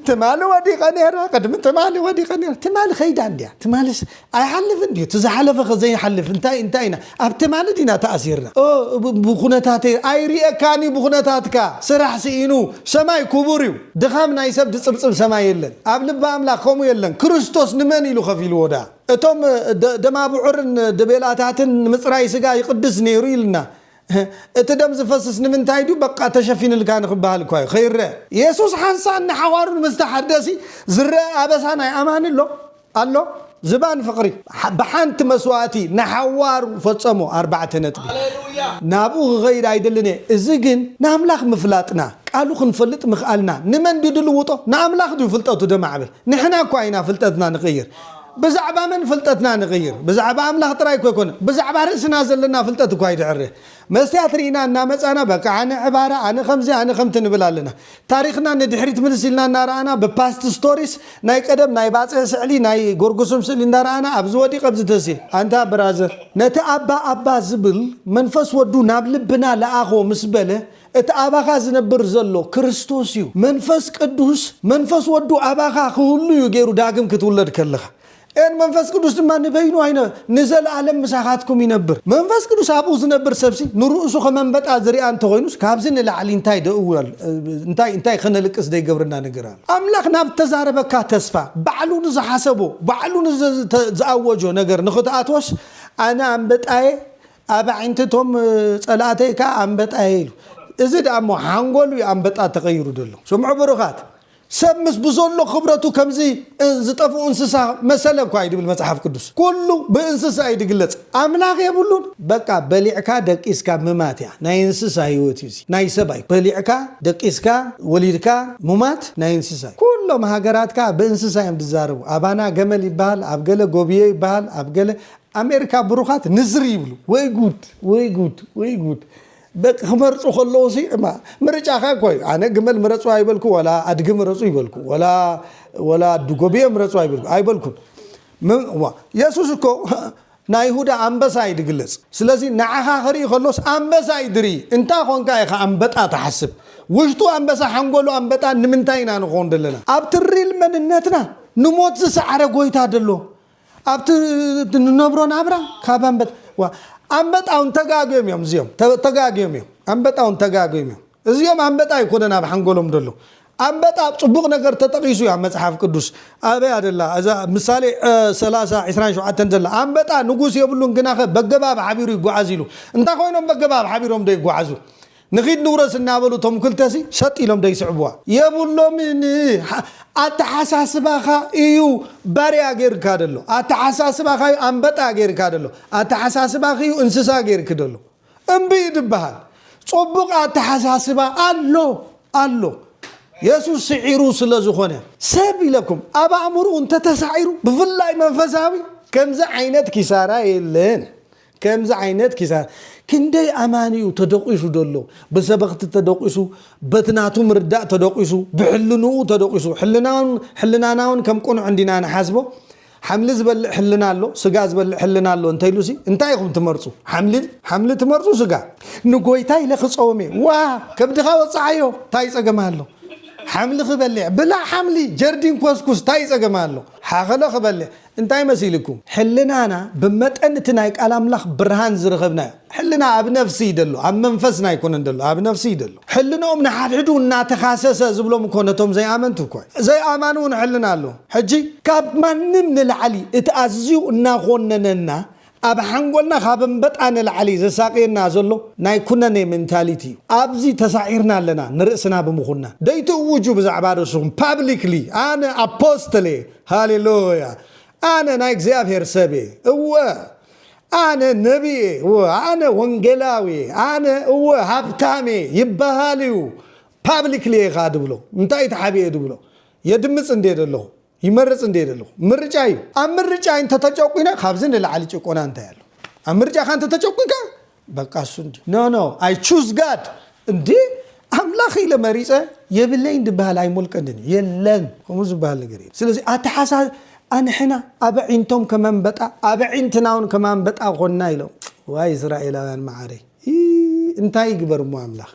ትማሊ ወዲቀ ነይረ ቅድሚ ትማሊ ወዲቀ ነይረ ትማሊ ከይዳ እንድያ ትማሊስ ኣይሓልፍን ድዩ እቲ ዝሓለፈ ከ ዘይሓልፍ እንታይ እንታይ ኢና ኣብ ትማሊ ዲና ተኣሲርና ኦ ብኩነታተይ ኣይርኤካን እዩ ብኩነታትካ ስራሕ ስኢኑ ሰማይ ኩቡር እዩ ድኻም ናይ ሰብ ድጽብጽብ ሰማይ የለን ኣብ ልቢ ኣምላኽ ከምኡ የለን ክርስቶስ ንመን ኢሉ ከፊልዎ ደኣ እቶም ደማብዑርን ደቤላታትን ንምጽራይ ስጋ ይቕድስ ነይሩ ኢልና። እቲ ደም ዝፈስስ ንምንታይ ድዩ? በቃ ተሸፊንልካ ንኽበሃል እኳ እዩ፣ ከይረኣ። የሱስ ሓንሳእን ንሓዋሩን ምስ ተሓደሲ ዝረኣ ኣበሳ ናይ ኣማኒ ኣሎ? ኣሎ። ዝባን ፍቕሪ ብሓንቲ መስዋእቲ ንሓዋሩ ፈጸሞ፣ ኣርባዕተ ነጥቢ። ናብኡ ክኸይድ ኣይደልን እየ፣ እዚ ግን ንኣምላኽ ምፍላጥና፣ ቃሉ ክንፈልጥ ምኽኣልና ንመን ድዩ ድልውጦ? ንኣምላኽ ድዩ ፍልጠቱ ደማዕብል? ንሕና እኳ ኢና ፍልጠትና ንቕይር። ብዛዕባ መን ፍልጠትና ንቕይር? ብዛዕባ ኣምላኽ ጥራይ እኮ ኣይኮነን፣ ብዛዕባ ርእስና ዘለና ፍልጠት እኳ ይድዕር። መስትያት ርኢና እናመጻና በቃ ኣነ ዕባራ፣ ኣነ ከምዚ፣ ኣነ ከምቲ ንብል ኣለና። ታሪኽና ንድሕሪት ምልስ ኢልና እናረኣና ብፓስት ስቶሪስ ናይ ቀደም ናይ ባጽዕ ስዕሊ፣ ናይ ጎርጉስም ስእሊ እንዳረኣና ኣብዚ ወዲቕ ኣብዚ ተስየ። ኣንታ ብራዘር! ነቲ ኣባ ኣባ ዝብል መንፈስ ወዱ ናብ ልብና ለኣኾ ምስ በለ፣ እቲ ኣባኻ ዝነብር ዘሎ ክርስቶስ እዩ። መንፈስ ቅዱስ መንፈስ ወዱ ኣባኻ ክህሉ እዩ ገይሩ ዳግም ክትውለድ ከለኻ። ን መንፈስ ቅዱስ ድማ ንበይኑ ኣይነ ንዘለኣለም ምሳኻትኩም ይነብር። መንፈስ ቅዱስ ኣብኡ ዝነብር ሰብሲ ንርእሱ ከም ኣንበጣ ዝርኣ እንተኾይኑስ ካብዚ ንላዕሊ እንታይ ደእው እንታይ እንታይ ከነልቅስ ደይገብረና ነገር ኣሎ። ኣምላኽ ናብ ዝተዛረበካ ተስፋ ባዕሉ ንዝሓሰቦ ባዕሉ ንዝኣወጆ ነገር ንኽትኣትዎስ ኣነ ኣንበጣየ ኣብ ኣዒንቲ እቶም ጸላእተይ ከኣ ኣንበጣ'የ ኢሉ። እዚ ደኣ'ሞ ሓንጎል'ዩ ኣንበጣ ተቐይሩ ዘሎ። ስምዑ ብሩኻት፣ ሰብ ምስ ብዘሎ ክብረቱ ከምዚ ዝጠፍኡ እንስሳ መሰለ'ኳ እዩ ድብል መጽሓፍ ቅዱስ። ኩሉ ብእንስሳ እዩ ድግለጽ። ኣምላኽ የብሉን። በቃ በሊዕካ ደቂስካ ምማት እያ። ናይ እንስሳ ህይወት እዩ እዚ። ናይ ሰብ ኣይኮነን። በሊዕካ ደቂስካ ወሊድካ ምማት ናይ እንስሳ እዩ። ኩሎም ሃገራት ከኣ ብእንስሳ እዮም ድዛረቡ። ኣባና ገመል ይበሃል፣ ኣብ ገለ ጎብዮ ይበሃል፣ ኣብ ገለ ኣሜሪካ ብሩኻት ንዝር ይብሉ ወይ ጉድ ወይ ጉድ ወይ ጉድ ደቂ ክመርፁ ከለዉ ሲ እማ ምርጫኻ እኮ እዩ ኣነ ግመል ምረፁ ኣይበልኩ ወላ ኣድጊ ምረፁ ይበልኩ ወላ ወላ ኣድጎብየ ምረፁ ኣይበልኩ ኣይበልኩን ም- እዋ፣ የሱስ እኮ ናይ ይሁዳ ኣንበሳ እዩ ድግለፅ ስለዚ ንዓኻ ክርኢ ከሎስ ኣንበሳ እዩ ድርኢ እንታ ኮንካ ኢኻ ኣንበጣ ትሓስብ ውሽጡ ኣንበሳ ሓንጎሉ ኣንበጣ ንምንታይ ኢና ንኾን ዘለና ኣብቲ ሪል መንነትና ንሞት ዝሰዓረ ጎይታ ደሎ ኣብቲ ንነብሮ ናብራ ካብ ኣንበጣ ዋ ኣንበጣ ውን ተጋግዮም እዮም እዚኦም ተ- ተጋግዮም እዮም ኣንበጣ ውን ተጋግዮም እዮም እዚኦም ኣንበጣ ኣይኮነን ኣብ ሓንጎሎም ደሎ ኣንበጣ ኣብ ጽቡቕ ነገር ተጠቒሱ እዩ ኣብ መጽሓፍ ቅዱስ ኣበያ ደላ እዛ ምሳሌ እ፣ ሰላሳ ዕስራን ሸውዓተን ዘላ ኣንበጣ ንጉስ የብሉን ግናኸ በገባብ ሓቢሩ ይጓዓዝ ኢሉ እንታይ ኮይኖም በገባብ ሓቢሮም ዶ ይጓዓዙ ንኺድ ንውረስ እናበሉ እቶም ክልተሲ ሰጥ ኢሎም ዶ ይስዕብዋ? የብሎምን። ኣተሓሳስባኻ እዩ ባርያ ገይርካ ዘሎ። ኣተሓሳስባኻ እዩ ኣንበጣ ገይርካ ዘሎ። ኣተሓሳስባኺ እዩ እንስሳ ገይርኪ ዘሎ። እምቢ እዩ ዝበሃል። ጽቡቕ ኣተሓሳስባ ኣሎ ኣሎ። የሱስ ስዒሩ ስለ ዝኾነ። ሰብ ኢለኩም ኣብ ኣእምርኡ እንተ ተሳዒሩ ብፍላይ መንፈሳዊ ከምዚ ዓይነት ኪሳራ የለን። ከምዚ ዓይነት ኪሳራ ክንደይ ኣማኒ እዩ ተደቂሱ ዘሎ ብሰበኽቲ ተደቂሱ በቲ ናቱ ምርዳእ ተደቂሱ ብሕልንኡ ተደቂሱ ሕልናውን ሕልናናውን ከም ቅኑዕ እንዲና ንሓስቦ ሓምሊ ዝበልዕ ሕልና ኣሎ ስጋ ዝበልዕ ሕልና ኣሎ እንተኢሉሲ እንታይ ኢኹም ትመርጹ ሓምሊ ሓምሊ ትመርጹ ስጋ ንጎይታ ኢለ ክጸውም እየ ዋ ከብድኻ ወጽዓዮ ታይ ጸገም ኣሎ ሓምሊ ክበልዕ ብላዕ ሓምሊ ጀርዲን ኮስኩስ ታይ ጸገም ኣሎ ሓኸሎ ክበልዕ እንታይ መሲልኩም? ሕልናና ብመጠን እቲ ናይ ቃል ኣምላኽ ብርሃን ዝረኸብናዮ። ሕልና ኣብ ነፍሲ እዩ ደሎ ኣብ መንፈስና ኣይኮነን ደሎ ኣብ ነፍሲ እዩ ደሎ። ሕልንኦም ንሓድሕዱ እናተኻሰሰ ዝብሎም እኮ ነቶም ዘይኣመንቱ እኮ እዩ። ዘይኣማን እውን ሕልና ኣለዎም። ሕጂ ካብ ማንም ንላዕሊ እቲ ኣዝዩ እናኾነነና ኣብ ሓንጎልና ካብ እምበጣ ንላዕሊ ዘሳቅየና ዘሎ ናይ ኩነኔ ሜንታሊቲ እዩ ኣብዚ ተሳዒርና ኣለና ንርእስና ብምኹናን ደይትእውጁ ብዛዕባ ርእስኹም ፓብሊክሊ ኣነ ኣፖስትል እየ ሃሌሉያ ኣነ ናይ እግዚኣብሔር ሰብ እየ እወ ኣነ ነቢ እየ እወ ኣነ ወንጌላዊ እየ ኣነ እወ ሃብታም እየ ይበሃል እዩ ፓብሊክሊ እየ ከኣ ድብሎ እንታይ ተሓቢኤ ድብሎ የድምጽ እንዴ ደለኹ ይመርፅ እንድየ ዘለኹ ምርጫ እዩ ኣብ ምርጫ እንተተጨቁነ ካብዚ ንላዕሊ ጭቆና እንታይ ኣሎ ኣብ ምርጫኻ እንተተጨቁንካ በቃ እሱ እንዲ ኖ ኖ ኣይ ቹዝ ጋድ እንዲ ኣምላኽ ኢለ መሪፀ የብለይን ድበሃል ኣይሞልቀንን እዩ የለን ከምኡ ዝበሃል ነገር እዩ ስለዚ ኣተሓሳ ኣንሕና ኣብ ዒንቶም ከመንበጣ ኣብ ዒንትና እውን ከማንበጣ ኮና ኢሎም ዋይ እስራኤላውያን መዓረይ እንታይ ይግበር እሞ ኣምላኽ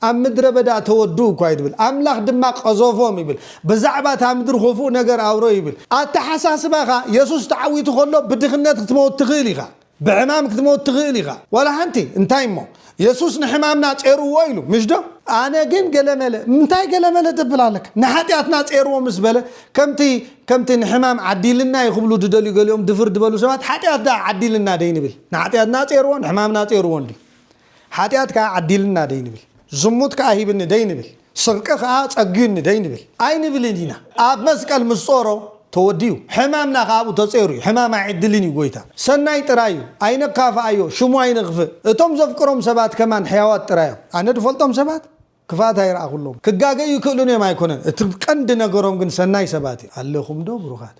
ኣብ ምድረ በዳ ተወድኡ እኳ ይብል ኣምላኽ ድማ ቀዘፎም ይብል ብዛዕባ እታ ምድሪ ኹፉእ ነገር ኣውረዩ ይብል ኣተሓሳስባኻ የሱስ ተዓዊቱ ከሎ ብድኽነት ክትመውት ትኽእል ኢኻ ብሕማም ክትመውት ትኽእል ኢኻ ዋላ ሓንቲ እንታይ እሞ የሱስ ንሕማምና ጼርዎ ኢሉ ምሽዶ ኣነ ግን ገለመለ እንታይ ገለመለ ትብል ኣለካ ንሓጢኣትና ጼርዎ ምስ በለ ከምቲ ከምቲ ንሕማም ዓዲልና እዩ ክብሉ ድደልዩ ገሊኦም ድፍር ድበሉ ሰባት ሓጢኣት ደኣ ዓዲልና ደይ ንብል ንሓጢኣትና ጼርዎ ንሕማምና ጼርዎ እንዲ ሓጢኣት ከኣ ዓዲልና ደይንብል፣ ዝሙት ከኣ ሂብኒ ደይንብል፣ ስርቂ ከኣ ጸግዩኒ ደይንብል ኣይንብልን ኢና። ኣብ መስቀል ምስ ጾሮ ተወዲኡ፣ ሕማምና ከኣ ኣብኡ ተጼሩ እዩ። ሕማም ኣይዕድልን እዩ ጎይታ። ሰናይ ጥራይ እዩ። ኣይነካፍኣዮ፣ ሽሙ ኣይነኽፍእ። እቶም ዘፍቅሮም ሰባት ከማን ሕያዋት ጥራይ እዮም። ኣነ ድፈልጦም ሰባት። ክፍኣት ኣይረኣኹሎም ክጋገዩ ይክእሉን እዮም ኣይኮነን እቲ ቀንዲ ነገሮም ግን ሰናይ ሰባት እዮም ኣለኹም ዶ ብሩኻት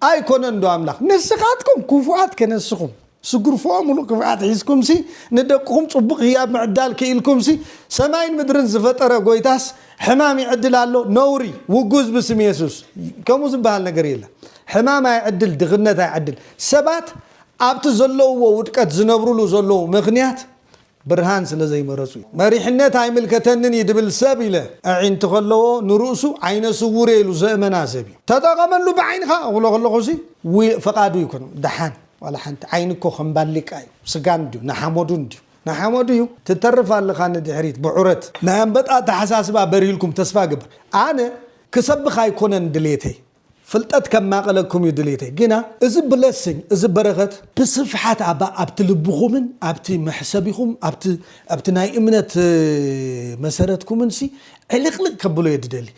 ኣይኮነን ዶ ኣምላኽ ንስኻትኩም ክፉኣት ከነስኹም ስጉርፎኦ ምሉእ ክፍኣት ሒዝኩምሲ ንደቅኹም ጽቡቕ ህያብ ምዕዳል ክኢልኩምሲ ሰማይን ምድርን ዝፈጠረ ጎይታስ ሕማም ይዕድል ኣሎ ነውሪ ውጉዝ ብስም የሱስ ከምኡ ዝበሃል ነገር የለን ሕማም ኣይዕድል ድኽነት ኣይዕድል ሰባት ኣብቲ ዘለውዎ ውድቀት ዝነብርሉ ዘለዉ ምኽንያት ብርሃን ስለ ዘይመረጹ እዩ። መሪሕነት ኣይምልከተንን እዩ ድብል ሰብ ኢለ ኣዒንቲ ከለዎ ንርእሱ ዓይነ ስዉር እየ ኢሉ ዘእመና ሰብ እዩ። ተጠቐመሉ ብዓይንኻ ክብሎ ከለኹሲ ውይ ፈቓዱ ኣይኮነን ደሓን ዋላ ሓንቲ ዓይኒ እኮ ከም ባሊቃ እዩ ስጋ እንድዩ ንሓመዱ እንድዩ ንሓመዱ እዩ ትተርፍ ኣለኻ ንድሕሪት ብዑረት። ናይ ኣንበጣ ኣተሓሳስባ በሪህልኩም ተስፋ እገብር። ኣነ ክሰብኽ ኣይኮነን ድሌተይ ፍልጠት ከማቅለኩም እዩ ድሌተይ ግና እዚ ብለሲንግ እዚ በረከት ብስፍሓት ኣባ ኣብቲ ልብኹምን ኣብቲ መሕሰቢኹም ኣብቲ ኣብቲ ናይ እምነት መሰረትኩምን ሲ ዕልቅልቅ ከብሎ እየ ድደሊ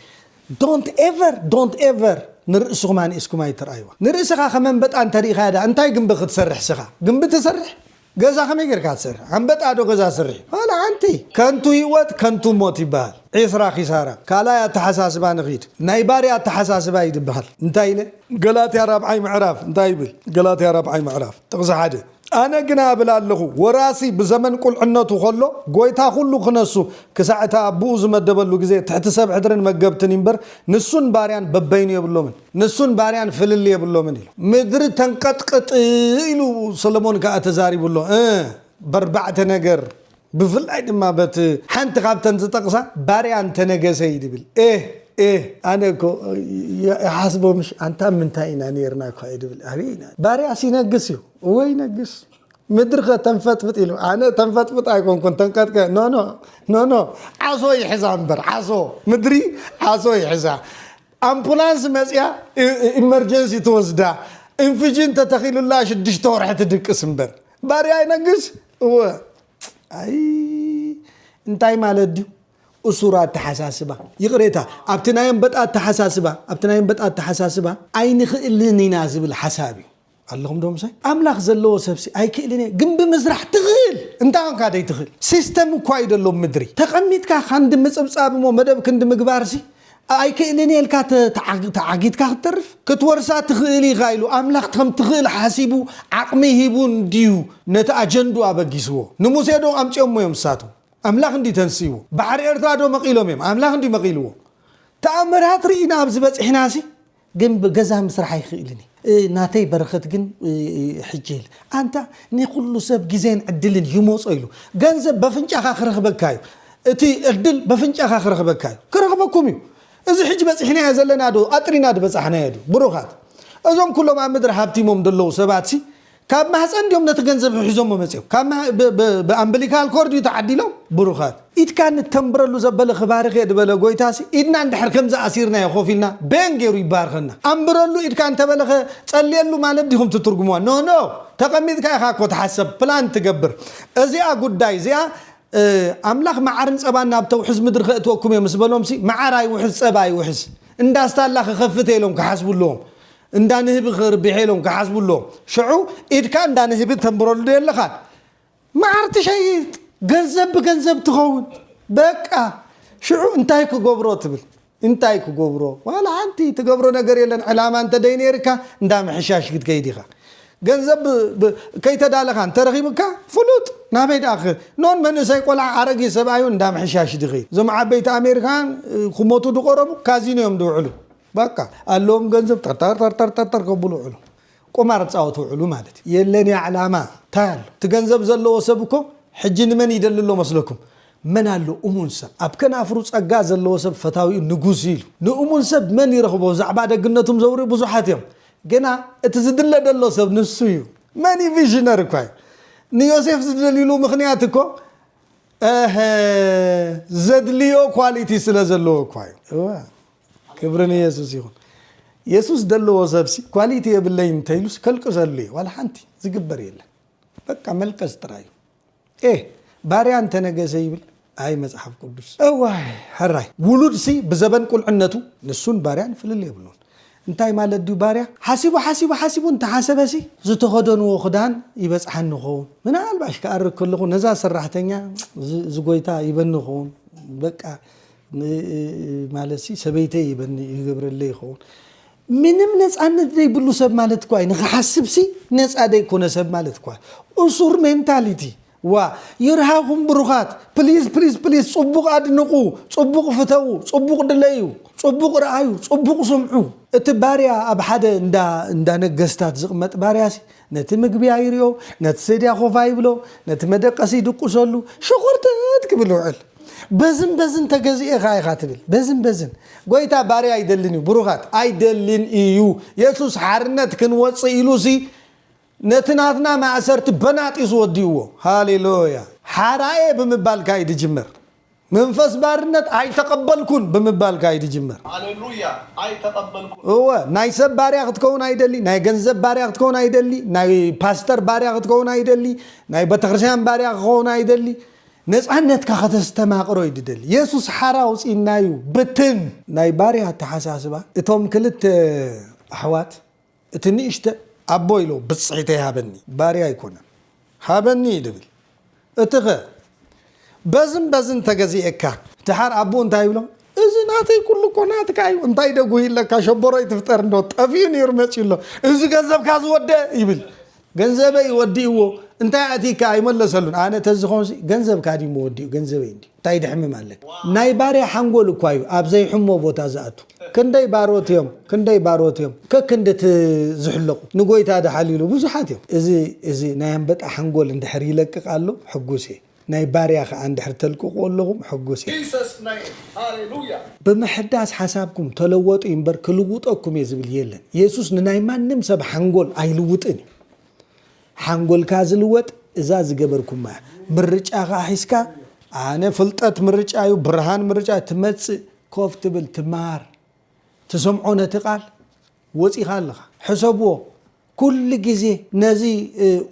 Don't ever Don't ever ንርእስኹም ኣንኢስኩም ኣይትርኣይዋ ንርእስኻ ከም ኣንበጣ እንተሪኢኻያ ድኣ እንታይ ግንቢ ክትሰርሕ ስኻ ግንቢ ትሰርሕ ገዛ ከመይ ጌርካ ትሰርሕ ኣንበጣ ዶ ገዛ ስርሒ ዋላ ሓንቲ ከንቱ ሂወት ከንቱ ሞት ይበሃል ዒስራ ኪሳራ ካልኣይ ኣተሓሳስባ ንኺድ ናይ ባርያ ኣተሓሳስባ እዩ ድበሃል እንታይ ኢለ ገላትያ ራብዓይ ምዕራፍ እንታይ ይብል ገላትያ ራብዓይ ምዕራፍ ጥቕሲ ሓደ ኣነ ግና እብል ኣለኹ ወራሲ ብዘመን ቁልዕነቱ ከሎ ጎይታ ኩሉ ክነሱ ክሳዕ እቲ ኣቡኡ ዝመደበሉ ግዜ ትሕቲ ሰብ ሕድርን መገብትን እዩ እምበር ንሱን ባርያን በበይኑ የብሎምን ንሱን ባርያን ፍልልይ የብሎምን ኢሉ። ምድሪ ተንቀጥቅጥ ኢሉ ሰሎሞን ከኣ ተዛሪቡ ኣሎ። እ በርባዕተ ነገር ብፍላይ ድማ በት ሓንቲ ካብተን ዝጠቕሳ ባርያ እንተ ነገሰ እዩ ድብል። ኤህ ኤህ ኣነ እኮ ይሓስቦ ምሽ ኣንታ ምንታይ ኢና ኔርና እኳ እዩ ድብል። ኣበይ ኢና ባርያስ ይነግስ እዩ እወ ይነግስ ምድሪ ከ ተንፈጥፍጥ ኢሉ ኣነ ተንፈጥፍጥ ኣይኮንኩን ተንቀጥቀ ኖኖ ኖኖ ዓሶ ይሕዛ እምበር ዓሶ ምድሪ ዓሶ ይሕዛ ኣምፑላንስ መፅያ ኢመርጀንሲ ትወስዳ እንፍዥን ተተኺሉላ ሽዱሽተ ወርሒ ትድቅስ እምበር ባርያ ይነግስ እወ ኣይ እንታይ ማለት ድዩ እሱር ኣተሓሳስባ ይቕሬታ ኣብቲ ናይ ኣንበጣ ኣተሓሳስባ ኣብቲ ናይ ኣንበጣ ኣተሓሳስባ ኣይንኽእልን ኢና ዝብል ሓሳብ እዩ ኣለኹም ዶ ምሳይ? ኣምላኽ ዘለዎ ሰብሲ ኣይክእልን እየ ግምቢ ምስራሕ ትኽእል እንታይ ኮንካ ዘይትኽእል ሲስተም እኳ እዩ ዘሎ ኣብ ምድሪ ተቀሚጥካ ካንዲ ምጽብጻብ እሞ መደብ ክንዲ ምግባርሲ ኣይክእልን እየ ኢልካ ተዓጊትካ ክትተርፍ ክትወርሳ ትኽእል ኢኻ ኢሉ ኣምላኽ ከም ትኽእል ሓሲቡ ዓቅሚ ሂቡ እንድዩ ነቲ ኣጀንድኡ ኣበጊስዎ ንሙሴ ዶ ኣምጺኦሞ እዮም ንሳቶም ኣምላኽ እንድዩ ተንሲእዎ ባሕሪ ኤርትራ ዶ መቂሎም እዮም ኣምላኽ እንድዩ መቂልዎ ተኣምራት ሪኢና ኣብዚ በጺሕናሲ ግን ብገዛ ምስራሕ ኣይክእልን እየ ናተይ በረከት ግን ሕጂ የለ ኣንታ ኒኩሉ ሰብ ግዜን ዕድልን ይሞጾ ኢሉ ገንዘብ በፍንጫካ ክረክበካ እዩ እቲ ዕድል በፍንጫካ ክረክበካ እዩ ክረክበኩም እዩ እዚ ሕጂ በጺሕናዮ ዘለና ዶ ኣጥሪና ድበጻሕናዮ ድዩ ብሩካት እዞም ኩሎም ኣብ ምድሪ ሃብቲሞም ደለዉ ሰባት ሲ ካብ ማህጸን ድዮም ነቲ ገንዘብ ሕሒዞሞ መጺኦም ካብ ብኣምብሊካል ኮርድ እዩ ተዓዲሎም ብሩኻት። ኢድካ ንተንብረሉ ዘበለ ክባርኽ እየ ድበለ ጎይታሲ ኢድና እንድሕር ከምዚ ኣሲርናዮ ኮፍ ኢልና በየን ጌሩ ይባርኸና ኣንብረሉ ኢድካ እንተበለኸ ጸልየሉ ማለት ዲኹም ትትርጉምዋ ኖ ኖ ተቀሚጥካ ኢኻ እኮ ትሓሰብ ፕላን ትገብር እዚኣ ጉዳይ እዚኣ ኣምላኽ መዓርን ጸባን ናብ ተውሕዝ ምድሪ ከእትወኩም እየ ምስ በሎምሲ መዓር ኣይውሕዝ ጸባ ኣይውሕዝ እንዳስታላ ክኸፍት እየ ኢሎም ክሓስቡ ኣለዎም እንዳ ንህቢ ክርብሔ ኢሎም ክሓስቡ ኣለዎም ሽዑ ኢድካ እንዳ ንህቢ ተንብረሉ ዶ የለኻን። መዓር ትሸይጥ ገንዘብ ብገንዘብ ትኸውን በቃ ሽዑ እንታይ ክገብሮ ትብል እንታይ ክገብሮ ዋላ ሓንቲ ትገብሮ ነገር የለን ዕላማ እንተ ደይነይርካ እንዳ ምሕሻሽ ክትከይድ ኢኻ ገንዘብ ከይተዳለኻ እንተረኺቡካ ፍሉጥ ናበይ ደኣ ኖን መንእሰይ ቆልዓ ኣረጊ ሰብኣዩ እንዳ ምሕሻሽ ድኸይድ እዞም ዓበይቲ ኣሜሪካውያን ክሞቱ ድቆረቡ ካዚኖ እዮም ድውዕሉ በቃ ኣለዎም ገንዘብ ጠርጠርጠርጠርጠር ከብሉ ውዕሉ ቁማር ፃወት ውዕሉ ማለት እዩ የለን እያ ዕላማ ታይ ኣሎ እቲ ገንዘብ ዘለዎ ሰብ እኮ ሕጂ ንመን ይደሊ ኣሎ መስለኩም መን ኣሎ እሙን ሰብ ኣብ ከናፍሩ ፀጋ ዘለዎ ሰብ ፈታዊኡ ንጉስ እዩ ኢሉ ንእሙን ሰብ መን ይረኽቦ ብዛዕባ ደግነቱም ዘውርዩ ብዙሓት እዮም ግና እቲ ዝድለ ደሎ ሰብ ንሱ እዩ መን እዩ ቪዥነር እኳ እዩ ንዮሴፍ ዝደልይሉ ምኽንያት እኮ እህ ዘድልዮ ኳሊቲ ስለ ዘለዎ እኳ እዩ እወ ክብሪ ንየሱስ ይኹን የሱስ ደለዎ ሰብሲ ኳሊቲ የብለይን እንተይሉስ ከልቅሰሉ እዩ ዋላ ሓንቲ ዝግበር የለን በቃ መልቀስ ጥራይ እዩ ኤህ ባርያ እንተነገሰ ይብል ኣይ መጽሓፍ ቅዱስ እዋይ ሕራይ ውሉድሲ ብዘበን ቁልዕነቱ ንሱን ባርያን ፍልል የብሉን እንታይ ማለት ድዩ ባርያ ሓሲቡ ሓሲቡ ሓሲቡ እንተሓሰበሲ ዝተኸደንዎ ክዳን ይበጽሓኒ ኸውን ምናልባሽ ክኣርግ ከለኹ ነዛ ሰራሕተኛ ዝጎይታ ይበኒ ኸውን በቃ ን ማለትሲ ሰበይተይ ይበኒ ይገብረለይ ይኸውን ምንም ነፃነት ዘይብሉ ሰብ ማለት እኳ እዩ ንክሓስብሲ ነፃ ዘይኮነ ሰብ ማለት እኳ እሱር ሜንታሊቲ ዋ ይርሃኹም ብሩኻት ፕሊዝ ፕሊዝ ፕሊዝ ፅቡቕ ኣድንቑ ፅቡቕ ፍተዉ ፅቡቕ ድለዩ ፅቡቕ ርኣዩ ፅቡቕ ስምዑ እቲ ባርያ ኣብ ሓደ እንዳ እንዳ ነገስታት ዝቕመጥ ባርያሲ ነቲ ምግቢ ኣይርኦ፣ ነቲ ሰድያ ኮፍ ኣይብሎ፣ ነቲ መደቀሲ ይድቁሰሉ፣ ሸኾርተት ክብል ይውዕል። በዝን በዝን ተገዚኤ ከኣ ኢኻ ትብል። በዝን በዝን ጎይታ ባርያ ኣይደልን እዩ። ብሩኻት ኣይደልን እዩ። የሱስ ሓርነት ክንወጽእ ኢሉሲ ነቲ ናትና ማእሰርቲ በናጢሱ ወዲእዎ። ሃሌሉያ! ሓራየ ብምባልካ እዩ ዝጅምር። መንፈስ ባርነት ኣይተቐበልኩን ብምባል ከኣ እዩ ዝጅምር። ሃሌሉያ! ኣይተቐበልኩን። እወ፣ ናይ ሰብ ባርያ ክትከውን ኣይደሊ፣ ናይ ገንዘብ ባርያ ክትከውን ኣይደሊ፣ ናይ ፓስተር ባርያ ክትከውን ኣይደሊ፣ ናይ ቤተክርስቲያን ባርያ ክኸውን ኣይደሊ፣ ነጻነትካ ከተስተማቕሮ እዩ ዝደሊ። የሱስ ሓራ ኣውጺእና እዩ፣ ብትን! ናይ ባርያ ኣተሓሳስባ እቶም ክልተ ኣሕዋት እቲ ንእሽተ ኣቦ ኢሉ ብጽሒተይ ሃበኒ፣ ባርያ ኣይኮነን ሃበኒ እዩ ድብል፣ እቲኸ በዝን በዝን ተገዚኤካ። ድሓር ኣቡኡ እንታይ ይብሎ እዚ ናተይ ኩሉ እኮ ናትካ እዩ እንታይ ደጉሂ ኣለካ ሸቦሮ ኣይትፍጠር እንዶ ጠፊኡ ነይሩ መጺኡ ኣሎ እዚ ገንዘብካ ዝወደኣ ይብል ገንዘበይ ወዲእዎ እንታይ ኣእቲካ ኣይመለሰሉን ኣነ ተዝኮንሲ ገንዘብካ ድዩ መወዲኡ ገንዘበይ እንድዩ እንታይ ደሕምም ኣለካ ናይ ባርያ ሓንጎል እኳ እዩ ኣብ ዘይሕሞ ቦታ ዝኣቱ ክንደይ ባሮት እዮም ክንደይ ባሮት እዮም ከክንዲ እቲ ዝሕለቁ ንጎይታ ድሓልይሉ ብዙሓት እዮም እዚ እዚ ናይ ኣንበጣ ሓንጎል እንድሕር ይለቅቅ ኣሎ ሕጉስ እየ ናይ ባርያ ከኣ እንድሕር ተልቅቅዎ ኣለኹም ሕጉስ እየ። Jesus name ሃሌሉያ። ብምሕዳስ ሓሳብኩም ተለወጡ ኢምበር ክልውጠኩም እየ ዝብል የለን የሱስ ንናይ ማንም ሰብ ሓንጎል ኣይልውጥን እዩ ሓንጎልካ ዝልወጥ እዛ ዝገበርኩማ እያ ምርጫኻ ሒዝካ ኣነ ፍልጠት ምርጫ እዩ ብርሃን ምርጫ ትመጽእ ኮፍ ትብል ትማር ትሰምዖ ነቲ ቃል ወጺኻ ኣለኻ ሕሰብዎ ኩሉ ግዜ ነዚ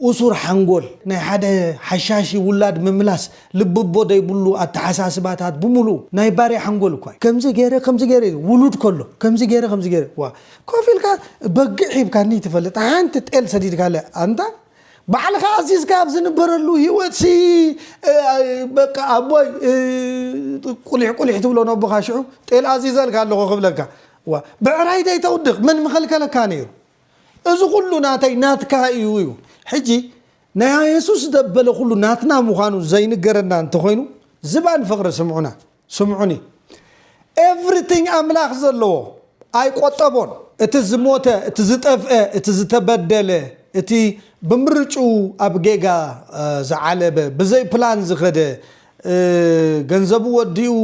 ኡሱር ሓንጎል ናይ ሓደ ሓሻሺ ውላድ ምምላስ ልብቦ ደይብሉ ኣተሓሳስባታት ብምሉኡ ናይ ባርያ ሓንጎል እኳ እዩ ከምዚ ገይረ ከምዚ ገይረ ኢሉ ውሉድ ከሎ ከምዚ ገይረ ከምዚ ገይረ ዋእ ኮፍ ኢልካ በግዕ ሂብካኒ ትፈልጥ ሓንቲ ጤል ሰዲድካለ ኣንታ ባዕልኻ ኣዚዝካ ኣብ ዝንበረሉ ሂወት ሲ በቃ ኣቦይ ቁሊሕ ቁሊሕ ትብሎ ነቦኻ ሽዑ ጤል ኣዚዘልካ ኣለኹ ክብለካ እዋ ብዕራይ ደይተውድቅ መን ምከልከለካ ነይሩ እዚ ኩሉ ናተይ ናትካ እዩ እዩ ሕጂ ናይ ኣየሱስ ዘበለ ኩሉ ናትና ምዃኑ ዘይንገረና እንተኾይኑ ዝባን ፍቅሪ ስምዑና ስምዑኒ ኤቭሪቲንግ ኣምላኽ ዘለዎ ኣይቆጠቦን እቲ ዝሞተ እቲ ዝጠፍአ እቲ ዝተበደለ እቲ ብምርጭኡ ኣብ ጌጋ ዝዓለበ ብዘይ ፕላን ዝኸደ ገንዘቡ ወዲኡ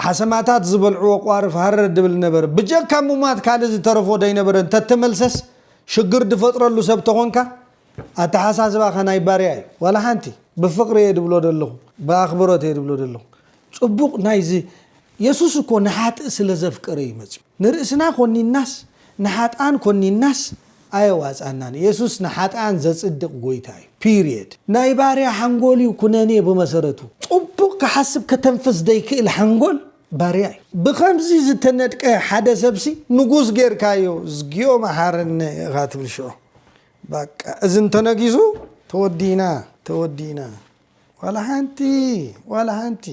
ሓሰማታት ዝበልዕዎ ቋርፍ ሃረር ድብል ነበረ። ብጀካ ሙማት ካልእ ዝተረፎ ደይነበረ እንተተመልሰስ ሽግር ድፈጥረሉ ሰብ ተኾንካ ኣተሓሳስባኻ ናይ ባርያ እዩ። ዋላ ሓንቲ። ብፍቕሪ እየ ድብሎ ደለኹ። ብኣኽብሮት እየ ድብሎ ደለኹ። ጽቡቕ ናይዚ የሱስ እኮ ንሓጥእ ስለ ዘፍቀረ እዩ መጺኡ። ንርእስና ኮኒንናስ ንሓጥኣን ኮኒንናስ ኣየዋጽኣናን። የሱስ ንሓጥኣን ዘጽድቕ ጎይታ እዩ ፒርየድ። ናይ ባርያ ሓንጎል እዩ ኩነኔ ብመሰረቱ። ጽቡቕ ክሓስብ ከተንፍስ ዘይክእል ሓንጎል ባርያ እዩ። ብኸምዚ ዝተነድቀ ሓደ ሰብሲ ንጉስ ጌርካዮ እዝግዮ መሓረነ ኢኻ ትብል ሽዑ ባቃ እዚ እንተነጊሱ ተወዲእና ተወዲእና። ዋላ ሓንቲ ዋላ ሓንቲ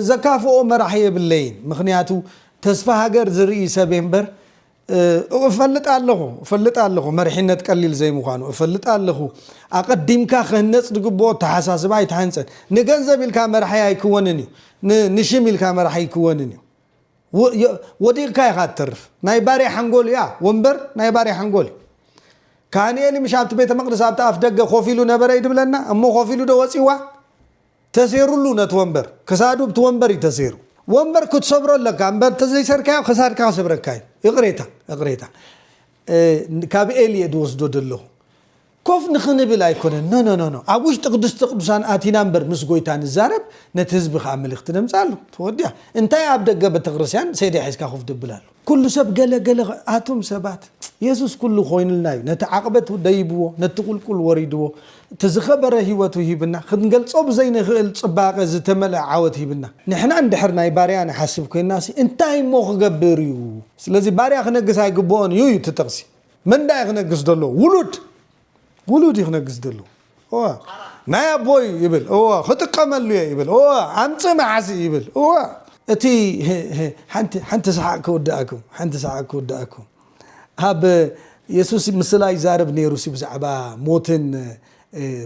ዘካፍኦ መራሒ የብለይን ምክንያቱ ተስፋ ሃገር ዝርኢ ሰብየ እምበር እፈልጥ ኣለኹ እፈልጥ ኣለኹ መሪሕነት ቀሊል ዘይምዃኑ እፈልጥ ኣለኹ ኣቐዲምካ ክህነፅ ዝግብኦ ኣተሓሳስባ ኣይተሃንፀን ንገንዘብ ኢልካ መራሒ ኣይክወንን እዩ ንሽም ኢልካ መራሒ ኣይክወንን እዩ ወዲቕካ ኢኻ ትተርፍ ናይ ባርያ ሓንጎል እያ ወንበር ናይ ባርያ ሓንጎል እዩ ካህንኤሊ ምሽ ኣብቲ ቤተ መቅደስ ኣብቲ ኣፍ ደገ ኮፍ ኢሉ ነበረ ይድብለና እሞ ኮፍ ኢሉ ዶ ወጺዋ ተሴሩሉ ነቲ ወንበር ክሳዱ ብቲ ወንበር እዩ ተሴሩ ወንበር ክትሰብሮ ኣለካ እምበር እንተዘይሰርካዮ ክሳድካ ክሰብረካ እዩ ይቕሬታ ይቕሬታ ካብ ኤሊ እየ ድወስዶ ደለኹ ኮፍ ንኽንብል ኣይኮነን ኖኖኖኖ ኣብ ውሽጢ ቅድስተ ቅዱሳን ኣቲና እምበር ምስ ጎይታ ንዛረብ ነቲ ህዝቢ ከኣ መልእኽቲ ነምጽኣሉ ተወዲኣ እንታይ ኣብ ደገ ቤተክርስትያን ሴዲ ሒዝካ ኮፍ ድብል ኣሎ። ኩሉ ሰብ ገለ ገለ ኣቱም ሰባት የሱስ ኩሉ ኮይኑልና እዩ ነቲ ዓቅበት ደይብዎ ነቲ ቁልቁል ወሪድዎ እቲ ዝከበረ ሂወቱ ሂብና ክንገልጾ ብዘይንክእል ጽባቀ ዝተመልኣ ዓወት ሂብና ንሕና እንድሕር ናይ ባርያ ንሓስብ ኮይንናሲ እንታይ እሞ ክገብር እዩ ስለዚ ባርያ ክነግስ ኣይግብኦን እዩ እዩ እቲ ጥቅሲ መን ዳኣ እዩ ክነግስ ደሎ ውሉድ ውሉድ እዩ ክነግስ ደሎ እወ ናይ ኣቦይ ይብል እወ ክጥቀመሉ እየ ይብል እወ ኣምጽእ መዓሲ ይብል እወ እቲ ሓንቲ ሰሓቅ ክውድኣኩም ሓንቲ ሰሓቅ ክውድኣኩም ኣብ የሱስ ምስላ ይዛረብ ነይሩ ብዛዕባ ሞትን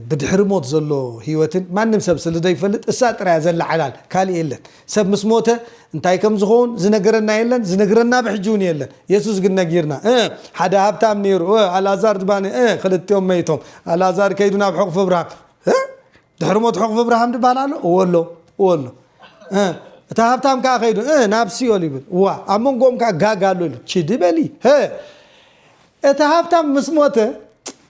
ብድሕሪ ሞት ዘሎ ህይወትን ማንም ሰብ ስልደይፈልጥ እሳ ጥራያ ዘላ ሓላል ካልእ የለን ሰብ ምስ ሞተ እንታይ ከም ዝኮውን ዝነገረና የለን ዝንግረና ብሕጂ ውን የለን የሱስ ግን ነጊርና እ ሓደ ሃብታም ነይሩ እ ኣልኣዛር ድማኒ እ ክልቲኦም መይቶም ኣልኣዛር ከይዱ ናብ ሕቁፊ ኣብርሃም እ ድሕሪ ሞት ሕቁፊ ኣብርሃም ድባሃል ኣሎ እወ ኣሎ እወ ኣሎ እ እታ ሃብታም ከዓ ከይዱ እ ናብ ሲኦል ይብል እዋ ኣብ መንጎኦም ከዓ ጋጋ ኣሎ ኢሉ ችዲ በሊ እ እቲ ሃብታም ምስ ሞተ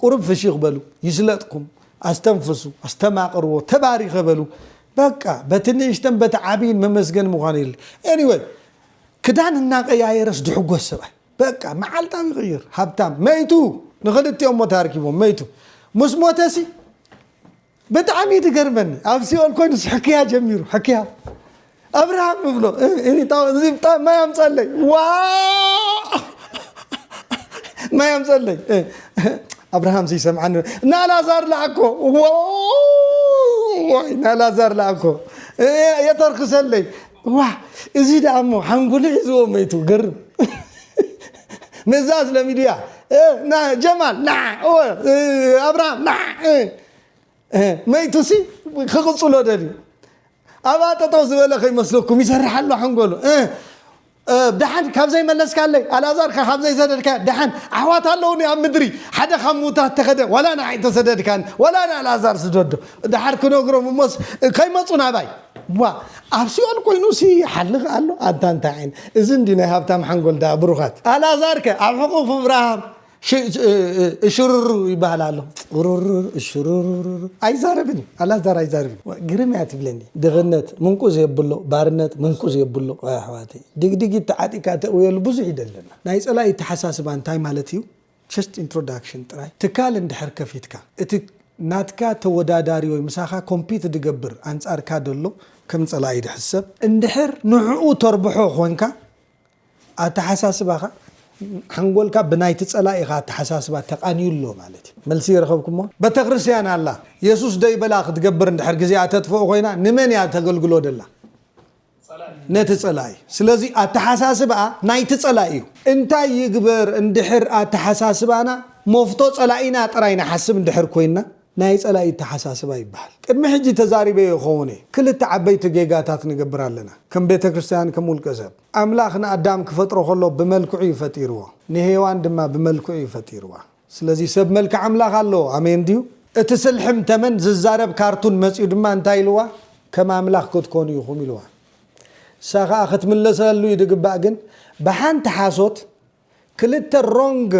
ቁሩብ ፍሽኽ በሉ ይስለጥኩም ኣስተንፍሱ ኣስተማቅርዎ ተባሪኸ በሉ በቃ በቲ ንእሽተን በቲ ዓብይን መመስገኒ ምዃኑ የድሊ Anyway ክዳን እናቀያየረስ ድሕጎስ ሰብኣይ በቃ መዓልታዊ ይቅይር ሃብታም መይቱ ንኽልቲኦሞ ተኣርኪቦም መይቱ ምስ ሞተሲ ብጣዕሚ እዩ ድገርመኒ ኣብ ሲኦል ኮይኑስ ሕክያ ጀሚሩ ሕክያ ኣብርሃም እብሎ እዚ ብጣዕሚ ማይ ኣምፀለይ ዋ ማይ ኣምፀለይ ኣብርሃም ዘይሰምዓኒ ናላዛር ላኣኮ ዋይ ናላዛር ላኣኮ የተርክሰለይ ዋ እዚ ደኣ እሞ ሓንጎሉ ሒዝዎ መይቱ ገርም ንዛስ ለሚድያ ጀማል ኣብርሃም መይቱሲ ክቕፅሎ ደልዩ ኣብኣ ጠጠው ዝበለ ከይመስለኩም ይሰርሕ ኣሎ ሓንጎሉ ደሓን ካብ ዘይመለስካለይ ኣልኣዛርካ ካብ ዘይሰደድካ ደሓን ኣሕዋት ኣለውኒ ኣብ ምድሪ ሓደ ካብ ምውታት ተኸደ ዋላ ንዓይ ተሰደድካኒ ዋላ ንኣልኣዛር ስደዶ ደሓር ክነግሮም እሞስ ከይመፁ ናባይ ዋእ ኣብ ሲኦል ኮይኑሲ ይሓልኽ ኣሎ ኣታ እንታይ ዓይነ እዚ እንድዩ ናይ ሃብታም ሓንጎል ደኣ ብሩኻት። ኣልኣዛር ከ ኣብ ሕቁፍ ኣብርሃም እሽሩሩ ይበሃል ኣሎ ሩሩሩ እሽሩሩሩሩ ኣይዛረብን እዩ ኣላዛር ኣይዛርብን ዋእ ግርም እያ ትብለኒ ድኽነት ምንቁዝ የብሎ ባርነት ምንቁዝ የብሎ ዋይ ኣሕዋተይ ድግዲጊት ተዓጢካ ተእውየሉ ብዙሕ እዩ ደለና ናይ ጸላኢ ኣተሓሳስባ እንታይ ማለት እዩ ችስት ኢንትሮዳክሽን ጥራይ ትካል እንድሕር ከፊትካ እቲ ናትካ ተወዳዳሪ ወይ ምሳኻ ኮምፒት ድገብር ኣንጻርካ ደሎ ከም ጸላኢ ድሕሰብ እንድሕር ንዕኡ ተርብሖ ኮንካ ኣተሓሳስባኻ ሓንጎልካ ብናይቲ ጸላኢኻ ኣተሓሳስባ ተቃንዩ ኣሎ ማለት እዩ። መልሲ ረኸብኩሞ? በተክርስትያን ኣላ የሱስ ደይበላ ክትገብር እንድሕር ግዜኣ ተጥፍኦ ኮይና ንመን እያ ተገልግሎ ደላ? ነቲ ጸላኢ። ስለዚ ኣተሓሳስባ ናይቲ ጸላኢ እዩ። እንታይ ይግበር እንድሕር ኣተሓሳስባና ሞፍቶ ጸላኢና ጥራይ ንሓስብ እንድሕር ኮይንና ናይ ጸላኢ ኣተሓሳስባ ይበሃል። ቅድሚ ሕጂ ተዛሪበዮ ይኸውን እየ። ክልተ ዓበይቲ ጌጋታት ንገብር ኣለና ከም ቤተክርስትያን ከም ውልቀሰብ። ኣምላኽ ንኣዳም ክፈጥሮ ከሎ ብመልክዑ እዩ ፈጢርዎ። ንሄዋን ድማ ብመልክዑ እዩ ፈጢርዋ። ስለዚ ሰብ መልክዕ ኣምላኽ ኣለዎ። ኣሜን ድዩ? እቲ ስልሕም ተመን ዝዛረብ ካርቱን መጺኡ ድማ እንታይ ኢልዋ? ከም ኣምላኽ ክትኮኑ ኢኹም ኢልዋ። እሳ ከኣ ክትምልሰሉ ይድግባእ ግን ብሓንቲ ሓሶት ክልተ ሮንግ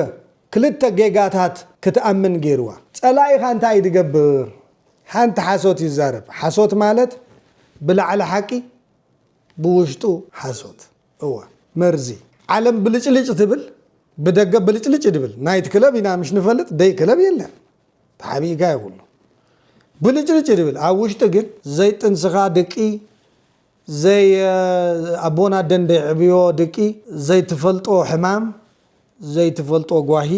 ክልተ ጌጋታት ክትኣምን ገይርዋ። ጸላኢኻ እንታይ እዩ ዝገብር? ሓንቲ ሓሶት ይዛረብ። ሓሶት ማለት ብላዕሊ ሓቂ ብውሽጡ ሓሶት። እወ መርዚ ዓለም ብልጭልጭ ትብል ብደገ ብልጭልጭ ድብል ናይት ክለብ ኢና ምሽ ንፈልጥ ደይ ክለብ የለን ተሓቢእካ ይብሉ ብልጭልጭ ድብል ኣብ ውሽጢ ግን ዘይጥንስኻ ድቂ ዘይ ኣቦና ደን ደይዕብዮ ድቂ ዘይትፈልጦ ሕማም ዘይትፈልጦ ጓሂ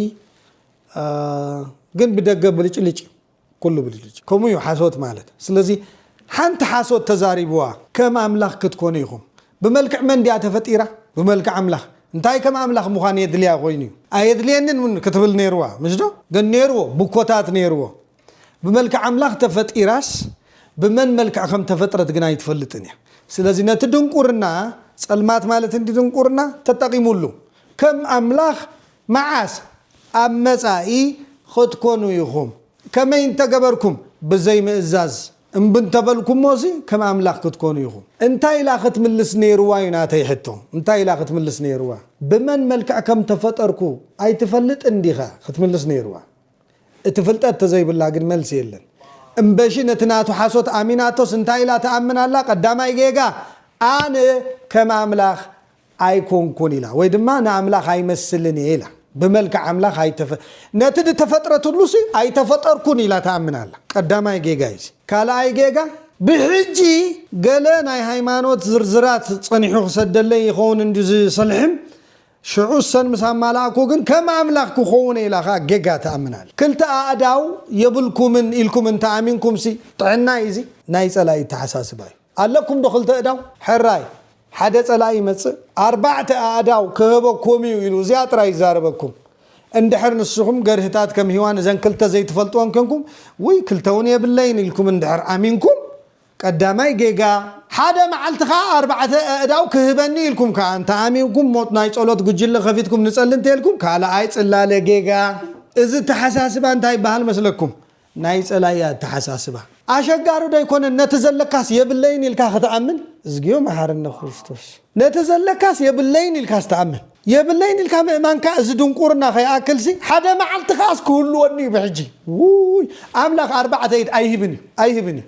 ግን ብደገ ብልጭልጭ እዩ ኩሉ ብልጭልጭ ከምኡ እዩ ሓሶት ማለት ስለዚ ሓንቲ ሓሶት ተዛሪብዋ ከም ኣምላኽ ክትኮኑ ኢኹም ብመልክዕ መን ድያ ተፈጢራ ብመልክዕ ኣምላኽ እንታይ ከም ኣምላኽ ምዃን የድልያ ኮይኑ እዩ ኣየድልየንን እውን ክትብል ነይርዋ ምሽዶ ግን ነይርዎ ብኮታት ነይርዎ ብመልክዕ ኣምላኽ ተፈጢራስ ብመን መልክዕ ከም ተፈጥረት ግን ኣይትፈልጥን እያ ስለዚ ነቲ ድንቁርና ጸልማት ማለት እንዲ ድንቁርና ተጠቂሙሉ ከም ኣምላኽ መዓስ ኣብ መጻኢ ኽትኰኑ ኢኹም። ከመይ እንተ ገበርኩም፣ ብዘይ ምእዛዝ እምቢ እንተ በልኩሞሲ፣ ከም ኣምላኽ ክትኰኑ ኢኹም። እንታይ ኢላ ኽትምልስ ነይርዋ እዩ ናተይ ሕቶ። እንታይ ኢላ ኽትምልስ ነይርዋ? ብመን መልክዕ ከም እተፈጠርኩ ኣይትፈልጥን ዲኻ? ኽትምልስ ነይርዋ። እቲ ፍልጠት እንተ ዘይብላ ግን መልሲ የለን። እምበሺ ነቲ ናቱ ሓሶት ኣሚናቶስ እንታይ ኢላ ትኣምን ኣላ? ቀዳማይ ጌጋ፣ ኣነ ከም ኣምላኽ ኣይኮንኩን ኢላ ወይ ድማ ንኣምላኽ ኣይመስልን እየ ኢላ ብመልክዕ ኣምላኽ ኣይተፈ ነቲ ድተፈጥረትሉሲ ኣይተፈጠርኩን ኢላ ትኣምን ኣላ ቀዳማይ ጌጋ እዩዚ ካልኣይ ጌጋ ብሕጂ ገለ ናይ ሃይማኖት ዝርዝራት ጸኒሑ ክሰደለይ ይኸውን እንድዩ ዝሰልሕም ሽዑ እሰን ምስ ኣማላእኩ ግን ከም ኣምላኽ ክኸውን እየ ኢላ ከኣ ጌጋ ትኣምን ኣላ ክልተ ኣእዳው የብልኩምን ኢልኩም እንተ ኣሚንኩምሲ ጥዕና እዩዚ ናይ ጸላኢ ኣተሓሳስባ እዩ። ኣለኩም ዶ ክልተ እዳው? ሕራይ ሓደ ጸላኢ ይመጽእ ኣርባዕተ ኣእዳው ክህበኩም እዩ ኢሉ እዚኣ ጥራይ ይዛረበኩም እንድሕር ንስኹም ገርህታት ከም ሂዋን እዘን ክልተ ዘይትፈልጥወን ኮንኩም ውይ ክልተ እውን የብለይን ኢልኩም እንድሕር ኣሚንኩም ቀዳማይ ጌጋ ሓደ መዓልቲ ከኣ ኣርባዕተ ኣእዳው ክህበኒ ኢልኩም ከኣ እንተ ኣሚንኩም ሞት ናይ ጸሎት ጉጅለ ከፊትኩም ንጸሊ እንተልኩም ካልኣይ ጽላለ ጌጋ እዚ ተሓሳስባ እንታይ ይበሃል መስለኩም ናይ ጸላኢ ኣተሓሳስባ። ኣሸጋሪ ዶ ኣይኮነን ነቲ ዘለካስ የብለይን ኢልካ ክትኣምን እዝግዮ መሓረነ ክርስቶስ ነቲ ዘለካስ የብለይን ኢልካስ ትኣምን የብለይን ኢልካ ምእማንካ እዚ ድንቁርና ከይኣክልሲ ሓደ መዓልቲ ከኣስ ክህልወኒ እዩ ብሕጂ ውይ ኣምላክ ኣርባዕተ ኢድ ኣይህብን እዩ ኣይህብን እዩ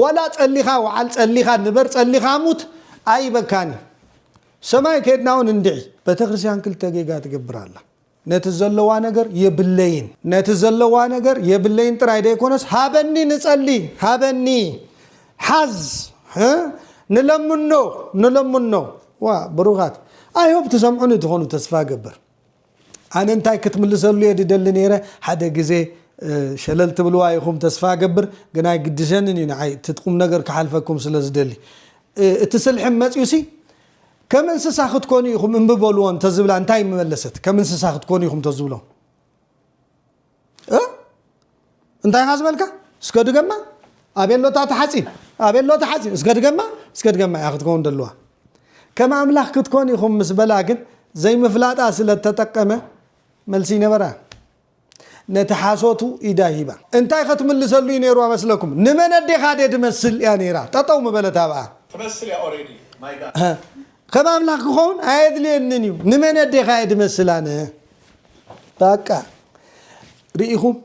ወላ ጸሊካ ወዓል ጸሊካ ንበር ጸሊካ ሙት ኣይበካን እዩ ሰማይ ከድና ውን እንድዒ። ቤተክርስቲያን ክልተ ጌጋ ትገብር ኣላ ነቲ ዘለዋ ነገር የብለይን። ነቲ ዘለዋ ነገር የብለይን ጥራይ ደይኮነስ ሃበኒ ንጸሊ ሃበኒ ሓዝ ንለምኖ ንለምኖ ዋ ብሩኻት ኣይሆብ ትሰምዑኒ ትኾኑ ተስፋ ገብር ኣነ እንታይ ክትምልሰሉ እየ ድደሊ ነይረ ሓደ ግዜ ሸለል ትብልዋ ኢኹም ተስፋ ገብር ግን ኣይግድሸንን እዩ ንዓይ እቲ ቁም ነገር ክሓልፈኩም ስለ ዝደሊ እቲ ስልሕም መፅዩሲ ከም እንስሳ ክትኮኑ ኢኹም እምቢ በልዎ እንተዝብላ እንታይ ምመለሰት ከም እንስሳ ክትኮኑ ኢኹም ተዝብሎም እንታይ ኢኻ ዝበልካ እስከ ድገማ ኣቤሎታ ተሓፂን ኣቤሎ ተሓፂን እስከ ድገማ እስከ ድገማ እያ ክትከውን ደለዋ ከም ኣምላኽ ክትኮን ኢኹም ምስ በላ ግን ዘይምፍላጣ ስለ ተጠቀመ መልሲ ይነበራ ነቲ ሓሶቱ ኢዳ ሂባ። እንታይ ከትምልሰሉ እዩ ነይርዋ መስለኩም ንመን ኣዴኻ ድየ ድመስል እያ ነይራ ጠጠው ምበለት ኣብኣ። ትመስል እያ ኦሬዲ ማይ ጋድ። ከም ኣምላኽ ክኸውን ኣየድልየንን እዩ ንመን ኣዴኻ እየ ድመስል ኣነ ባቃ ርኢኹም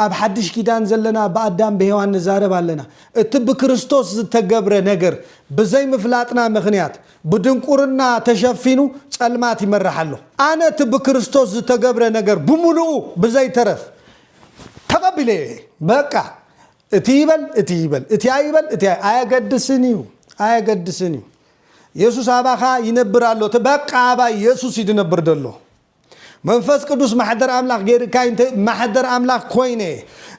ኣብ ሓድሽ ኪዳን ዘለና ብኣዳም ብሔዋን ንዛረብ ኣለና እቲ ብክርስቶስ ዝተገብረ ነገር ብዘይምፍላጥና ምኽንያት ብድንቁርና ተሸፊኑ ጸልማት ይመርሕ ኣሎ። ኣነ እቲ ብክርስቶስ ዝተገብረ ነገር ብምሉኡ ብዘይተረፍ ተቐቢለዮ እየ። በቃ እቲ ይበል እቲ ይበል እቲ ኣይበል እቲ ኣይ- ኣየገድስን እዩ ኣየገድስን እዩ። የሱስ ኣባኻ ይነብር ኣሎ እቲ በቃ ኣባይ የሱስ እዩ ዝነብር ዘሎ። መንፈስ ቅዱስ ማሕደር ኣምላኽ ገይርካይ እንተ ማሕደር ኣምላኽ ኮይነ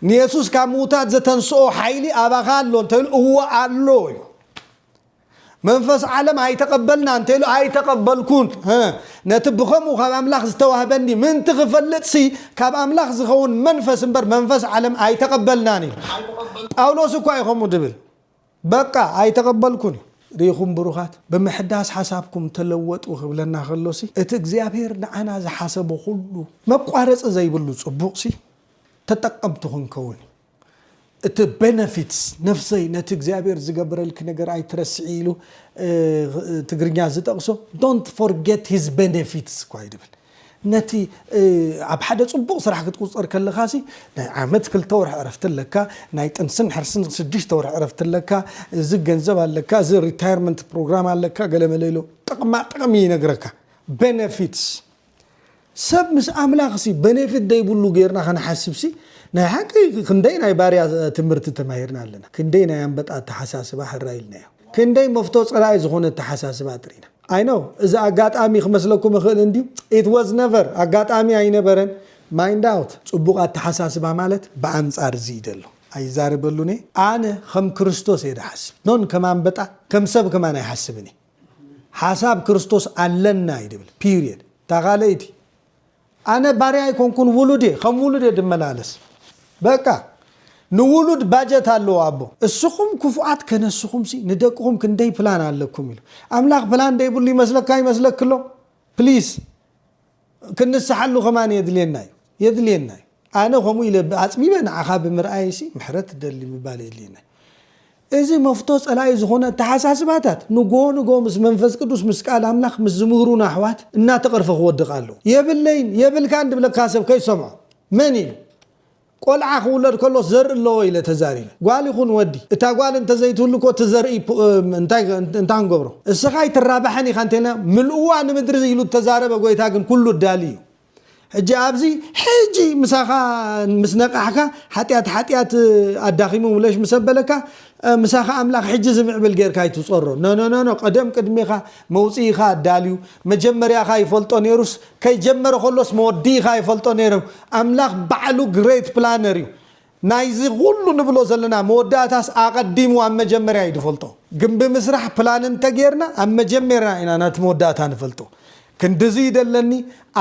ንየሱስ ካብ ምውታት ዘተንስኦ ሓይሊ ኣባኻ ኣሎ እንተይሉ እወ ኣሎ እዩ። መንፈስ ዓለም ኣይተቐበልና እንተኢሉ ኣይተቐበልኩን ህ ነቲ ብኸምኡ ካብ ኣምላኽ ዝተዋህበኒ ምእንቲ ክፈልጥሲ ካብ ኣምላኽ ዝኸውን መንፈስ እምበር መንፈስ ዓለም ኣይተቐበልናን ኢሉ። ጳውሎስ እኳ እዩ ከምኡ ድብል በቃ ኣይተቐበልኩን እዩ። ርኢኹም ብሩኻት ብምሕዳስ ሓሳብኩም ተለወጡ ክብለና ከሎሲ እቲ እግዚኣብሄር ንዓና ዝሓሰቦ ኩሉ መቋረጺ ዘይብሉ ጽቡቕሲ ተጠቀምቲ ክንከውን እዩ። እቲ benefits ነፍሰይ ነቲ እግዚኣብሔር ዝገበረልኪ ነገር ኣይትረስዒ ኢሉ ትግርኛ ዝጠቅሶ don't forget his benefits እኳ እዩ ዝብል ነቲ ኣብ ሓደ ጽቡቅ ስራሕ ክትቁጸር ከለካ ሲ ናይ ዓመት ክልተ ወርሒ ዕረፍቲ ኣለካ ናይ ጥንስን ሕርስን ሽዱሽተ ወርሒ ዕረፍቲ ኣለካ እዚ ገንዘብ ኣለካ እዚ ሪታየርመንት ፕሮግራም ኣለካ ገለ መለ ኢሉ ጥቅማ ጥቅሚ ይነግረካ benefits ሰብ ምስ ኣምላኽ ሲ በኔፊት ደይብሉ ጌርና ክንሓስብ ሲ ናይ ሓቂ ክንደይ ናይ ባርያ ትምህርቲ ተማሂርና ኣለና ክንደይ ናይ ኣምበጣ ኣተሓሳስባ ሕራይ ኢልናዮ ክንደይ መፍቶ ጸላኢ ዝኾነ ኣተሓሳስባ ኣጥሪና ኣይ ኖው እዚ ኣጋጣሚ ክመስለኩም ይኽእል እንድዩ ኢት ወዝ ነቨር ኣጋጣሚ ኣይነበረን ማይንድ ኣውት ጽቡቕ ኣተሓሳስባ ማለት ብኣንጻር እዚ እዩ ዘሎ ኣይዛረበሉን እየ ኣነ ከም ክርስቶስ እየ ዝሓስብ ኖን ከም ኣምበጣ ከም ሰብ ከማን ኣይሓስብን እየ ሓሳብ ክርስቶስ ኣለና እዩ ድብል ፒርየድ እታ ካልኣይቲ ኣነ ባርያ ኣይኮንኩን ውሉድ እየ ከም ውሉድ እየ ድመላለስ በቃ ንውሉድ ባጀት ኣለዎ ኣቦ እስኹም ክፉኣት ከነስኹምሲ ንደቅኹም ክንደይ ፕላን ኣለኩም ኢሉ ኣምላኽ ፕላን ደይብሉ ይመስለካ ይመስለክሎ ፕሊስ ክንንስሓሉ ከማን የድልየና እዩ የድልየና እዩ ኣነ ከምኡ ኢለ ኣጽቢበ ንዓኻ ብምርኣየይሲ ምሕረት እደሊ ምባል የድልየና እዩ እዚ መፍቶ ጸላኢ ዝኾነ ኣተሓሳስባታት ንግሆ ንግሆ ምስ መንፈስ ቅዱስ ምስ ቃል ኣምላኽ ምስ ዝምህሩና ኣሕዋት እናተቐርፈ ክወድቕ ኣለዎ የብለይን የብልካን ድብለካ ሰብ ከይትሰምዖ መን ኢሉ ቆልዓ ክውለድ ከሎስ ዘርኢ ኣለዎ ኢለ ተዛሪበ። ጓል ይኹን ወዲ፣ እታ ጓል እንተ ዘይትህሉ እኮ እቲ ዘርኢ እንታይ እንታይ ክንገብሮ? እስኻ ኣይትራባሕን ኢኻ እንተ ኢልና፣ ምልእዋ ንምድሪ ኢሉ እተዛረበ ጎይታ ግን ኩሉ እዳሊ እዩ። ሕጂ ኣብዚ ሕጂ ምሳኻ ምስ ነቃሕካ ሓጢኣት ሓጢኣት ኣዳኺሙ ምለሽ ምስ ኣበለካ ምሳኻ ኣምላኽ ሕጂ ዝምዕብል ጌርካ ኣይትጾሮ። ኖኖኖኖ ቀደም ቅድሜኻ መውጽኢኻ ኣዳልዩ መጀመርያኻ ይፈልጦ ኔሩስ ከይጀመረ ከሎስ መወዲኢካ ይፈልጦ ነይረ ኣምላክ ባዕሉ ግሬት ፕላነር እዩ ናይዚ ኩሉ ንብሎ ዘለና መወዳእታስ ኣቀዲሙ ኣብ መጀመርያ እዩ ድፈልጦ ግምቢ ምስራሕ ፕላን እንተጌርና ኣብ መጀመርያ ኢና ናቲ መወዳእታ ንፈልጦ ክንድዚ እዩ ደለኒ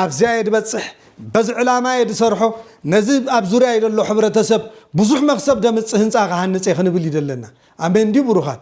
ኣብዚኣ እየ ድበፅሕ በዚ ዕላማ እየ ድሰርሖ ነዚ ኣብ ዙርያይ ደሎ ሕብረተሰብ ብዙሕ መክሰብ ደምፅእ ህንፃ ክሃንፅ እየ ክንብል እዩ ደለና ኣሜን ድዩ ብሩካት።